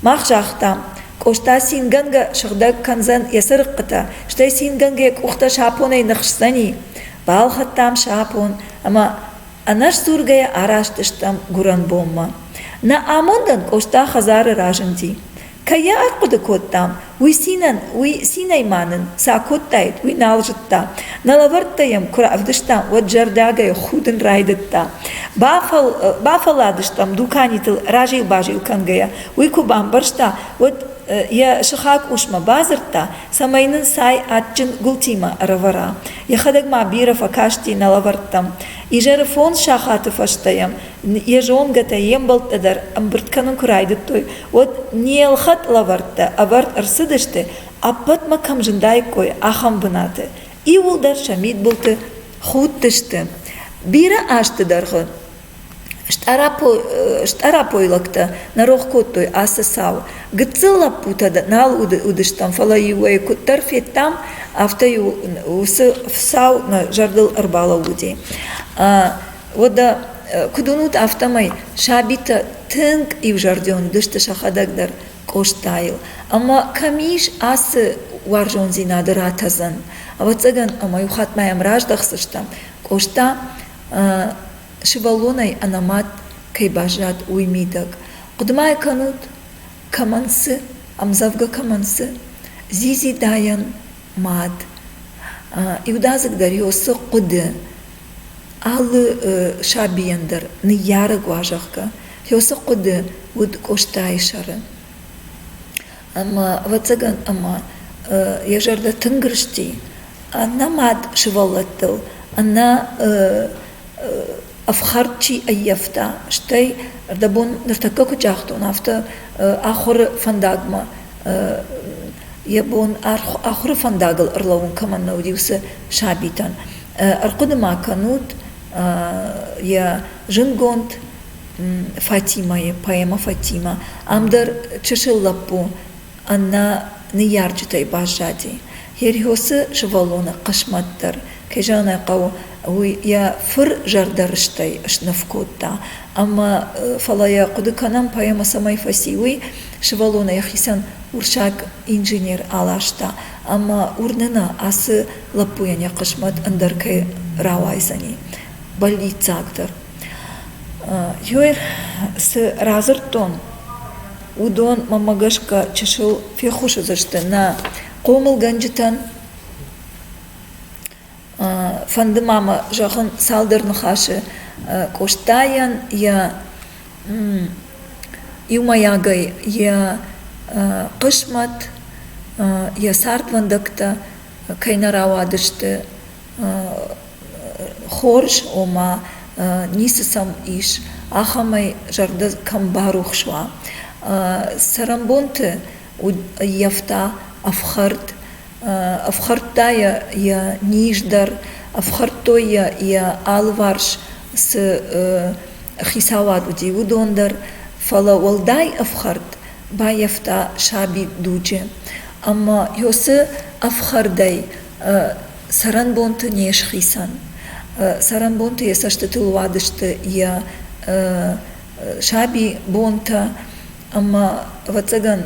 Мах загътам, Къоста цингӕнгӕ сыгъдӕг кӕндзӕн йӕ цырыхъхъытӕ, стӕй цингӕнгӕ йӕ къухтӕ сапонӕй ныхсдзӕни. Балхӕдтам сапон ӕмӕ ӕнӕсдзургӕйӕ араст стӕм гуырӕнбонмӕ. Нӕ амондӕн Къоста хӕдзары разынди. Кӕй йӕ ахъуыды кодтам, уый цинӕн, уый цинӕй ма нын цы акодтаид, уый нал зыдта. Нӕ лӕвӕрттӕ йӕм куы равдыстам, уӕд зӕрдиагӕй худын райдыдта. Бафӕл... бафӕлладыстӕм дуканитыл разил-базил кӕнгӕйӕ. Уый куы бамбӕрста, уӕд йӕ сыхаг усмӕ бадзырдта, цӕмӕй нын цай адджын гуылтимӕ ӕрӕвӕра. Йӕхӕдӕг ма бирӕ фӕкасти нӕ лӕвӕрттӕм. Изӕры фондз сахаты фӕстӕ йӕм йӕ зонгӕтӕ, йе мбӕлттӕ дӕр ӕмбырд кӕнын куы райдыдтой, уӕд не ӕлхӕд лӕвӕрттӕ ӕвӕрд ӕрцыдысты, ӕппӕтмӕ кӕм зындаиккой, ахӕм бынаты. Иууылдӕр сӕ мидбылты худтысты. Бирӕ азты дӕргъы стъарапойлӕгтӕ нӕ рох кодтой ацы цау. Гыццыл лӕппутӕ нал уыдыстӕм, фӕлӕ-иу ӕй куыддӕр федтам, афтӕ-иу уыцы цау нӕ зӕрдыл ӕрбалӕууыди. Уӕдӕ, куыд уынут, афтӕмӕй сабитӕ тынг иузӕрдион уыдысты сӕхӕдӕг дӕр Къостайыл. Ӕмӕ кӕм ис ацы уарзондзинады ратӕдзӕн? Ӕвӕццӕгӕн ӕмӕ иу хатт ма йӕм раздӕхдзыстӕм, Къоста сывӕллонӕй ӕнӕмӕт кӕй баззад, уый мидӕг. Хъуыды-ма кӕнут, кӕмӕн цы, ӕмдзӕвгӕ кӕмӕн цы, Зизи-дайӕн мад. Иудадзыг дӕр йӕ уыцы хъуыды алы сабийӕн дӕр ныййарӕг уа, зӕгъгӕ, йӕ уыцы хъуыды уыд Къостайы сӕры. Ӕмӕ, ӕвӕццӕгӕн, ӕмӕ йӕ зӕрдӕ тынг рысти, аннӕ мад сывӕллӕттыл, аннӕ ӕфхӕрд чи ӕййӕфта, стӕй ӕрдӕбон ныртӕккӕ куыд загътон, афтӕ ахуыры фӕндагмӕ йӕ бон ахуыры фӕндагыл ӕрлӕууын кӕмӕн нӕ уыди, уыцы сабитӕн. Ӕрхъуыды ма кӕнут йӕ зындгонд Фатимӕйы, поэмӕ Фатимӕ. Ам дӕр чысыл лӕппу Аннӕ ныййарджытӕй баззади. Херхосы сывӕллоны хъысмӕт дӕр, кӕй зӕгъын ӕй хъӕуы, уый йӕ фыр зӕрдӕрыстӕй сныв кодта. Ӕмӕ, фӕлӕ йӕ хъуыды кӕнӕм, поэмӕ цӕмӕй фӕци, уый, сывӕллонӕн йӕхицӕн урсаг инженер аласта, ӕмӕ уырны нӕ, ацы лӕппуйӕн йӕ хъысмӕт ӕндӕр кӕй рауайдзӕни, бӕллиццагдӕр. Геор, цы радзырдтон, уыдон, мӕнмӕ гӕсгӕ, чысыл феххуысдзысты нӕ хъомылгӕнджытӕн. фӕнды ма мӕ зӕгъын цалдӕр ныхасы Къостайӕн йӕ иумӕйагӕй йӕ хъысмӕт, йӕ цардвӕндӕгтӕ кӕй нӕ рауадысты, хорз, ома ницы сӕм ис, ахӕмӕй зӕрдӕ кӕм барухс уа. Цӕрӕнбонты ӕййӕфта ӕфхӕрд, ӕфхӕрдта йӕ йӕ низ дӕр, ӕфхӕрдтой йӕ йӕ алыварс цы хицауад уыди, уыдон дӕр. Фӕлӕ уӕлдай ӕфхӕрд баййӕфта саби дуджы. Ӕмӕ ёсы ӕфхӕрдӕй Цӕрӕнбонты не схицӕн. Цӕрӕнбонты йӕ цӕстытыл уадысты йӕ саби бонтӕ ӕмӕ, ӕвӕццӕгӕн,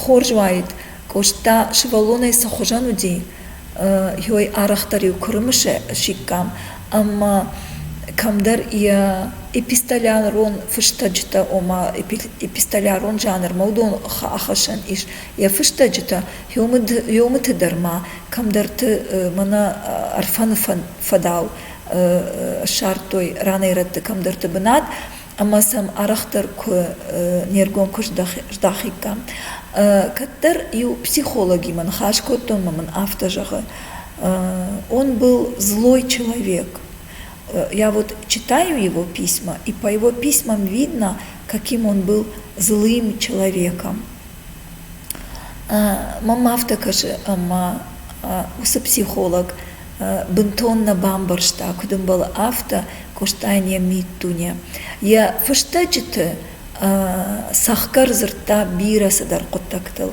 хорз уаид, Къоста сывӕллонӕй цы хуызӕн уыди, йой арӕхдӕр-иу куырымы сиккам ӕмӕ кӕмдӕр йӕ эпистолярон фыстӕджытӕ, ома эпистолярон жанрмӕ уыдон ахӕссӕн ис. Йӕ фыстӕджытӕ Ёмыты дӕр ма кӕмдӕрты мӕнӕ Ӕрфӕны фӕдау ссардтой ранӕй-рӕтты кӕмдӕрты бынат ӕмӕ сӕм арӕхдӕр куы не ргом куы здахиккам. Кӕддӕр-иу психологимӕ ныхас кодтон ӕмӕ мын афтӕ зӕгъы: «Он был злой человек. Я вот читаю его письма, и по его письмам видно, каким он был злым человеком». Мӕм афтӕ кӕсы, ӕмӕ уыцы психолог бынтон нӕ бамбӕрста, куыд ӕмбӕлы афтӕ Къостайӕн йӕ миддуне. Йӕ фыстӕджыты цӕхгӕр дзырдта бирӕ цыдӕр хъуыддӕгтыл.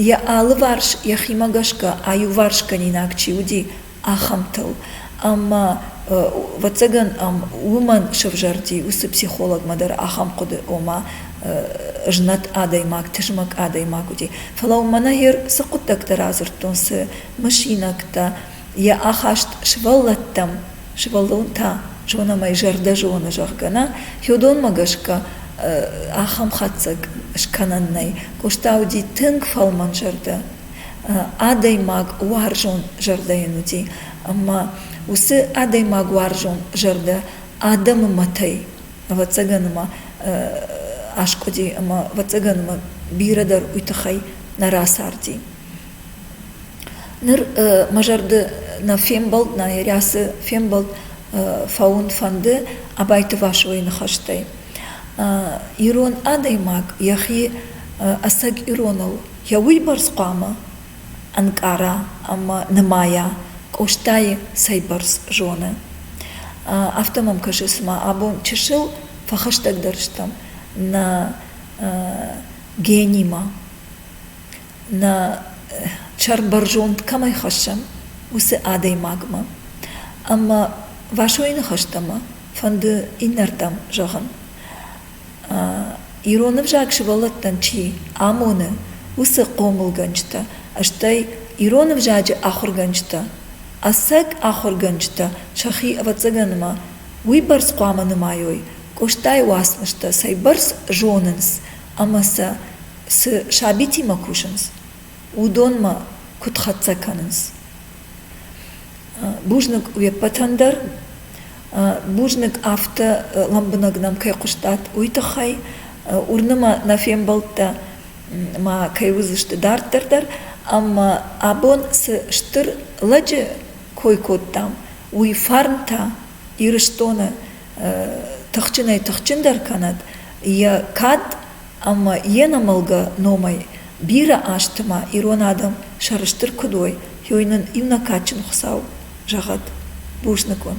Йӕ алыварс йӕхимӕ гӕсгӕ аиуварсгӕнинаг чи уыди, ахӕмтыл. Ӕмӕ, ӕвӕццӕгӕн ӕм уымӕн сӕвзӕрди уыцы психологмӕ дӕр ахӕм хъуыды, ома знӕт адӕймаг, тызмӕг адӕймаг уыди. Фӕлӕ уымӕн ӕгӕр цы хъуыддӕгтӕ радзырдтон, цы мысинӕгтӕ, йӕ ахаст сывӕллӕттӕм, сывӕллон та зонӕм ӕй зӕрдӕ зоны, зӕгъгӕ нӕ, феодонмӕ гӕсгӕ ахӕм хатдзӕг скӕнӕн нӕй. Къоста уыди тынг фӕлмӕнзӕрдӕ адӕймаг уарзон зӕрдӕйӕн уыди ӕмӕ уыцы адӕймаг уарзон зӕрдӕ адӕмы мӕтӕй ӕвӕццӕгӕн ма аскъуыди ӕмӕ ӕвӕццӕгӕн ма бирӕ дӕр уый тыххӕй нӕ рацарди ныр мӕ зӕрды нӕ фембӕлд нӕ рӕсы фембӕлд фӕуын фӕнды абайты васойы ныхӕстӕй ирон адӕймаг йӕхи ӕцӕг ироныл йӕ уыйбӕрц хъуамӕ ӕнкъара ӕмӕ нымайа Къостайы цӕйбӕрц зоны. Афтӕ мӕм кӕсы, цыма абон чысыл фӕхӕстӕгдӕр стӕм нӕ генимӕ, нӕ сӕрбӕрзонд кӕмӕй хӕссӕм, уыцы адӕймагмӕ. Ӕмӕ Васойы ныхӕстӕ мӕ фӕнды иннӕрдӕм зӕгъын. Ирон ӕвзаг сывӕллӕттӕн чи амоны, уыцы хъомылгӕнджытӕ, стӕй ирон ӕвзаджы ахуыргӕнджытӕ. Ӕцӕг ахуыргӕнджытӕ сӕхи, ӕвӕццӕгӕн ма, уыйбӕрц хъуамӕ нымайой, Къостайы уацмыстӕ цӕйбӕрц зонынц ӕмӕ сӕ цы сабитимӕ кусынц, уыдонмӕ куыд хӕццӕ кӕнынц? Бузныг уе ппӕтӕн дӕр. Бузныг афтӕ лӕмбынӕг нӕм кӕй хъуыстат, уый тыххӕй. Уырны мӕ, нӕ фембӕлдтӕ ма кӕй уыдзысты дарддӕр дӕр, ӕмӕ абон цы стыр лӕджы кой кодтам, уый фарн та Ирыстоны тыхджынӕй-тыхджындӕр кӕнӕд, йӕ кад ӕмӕ йе нӕмӕлгӕ номӕй бирӕ азты ма ирон адӕм сӕрыстыр куыд уой йой нын иннӕ кадджын хуыцау зӕгъӕд бузныкон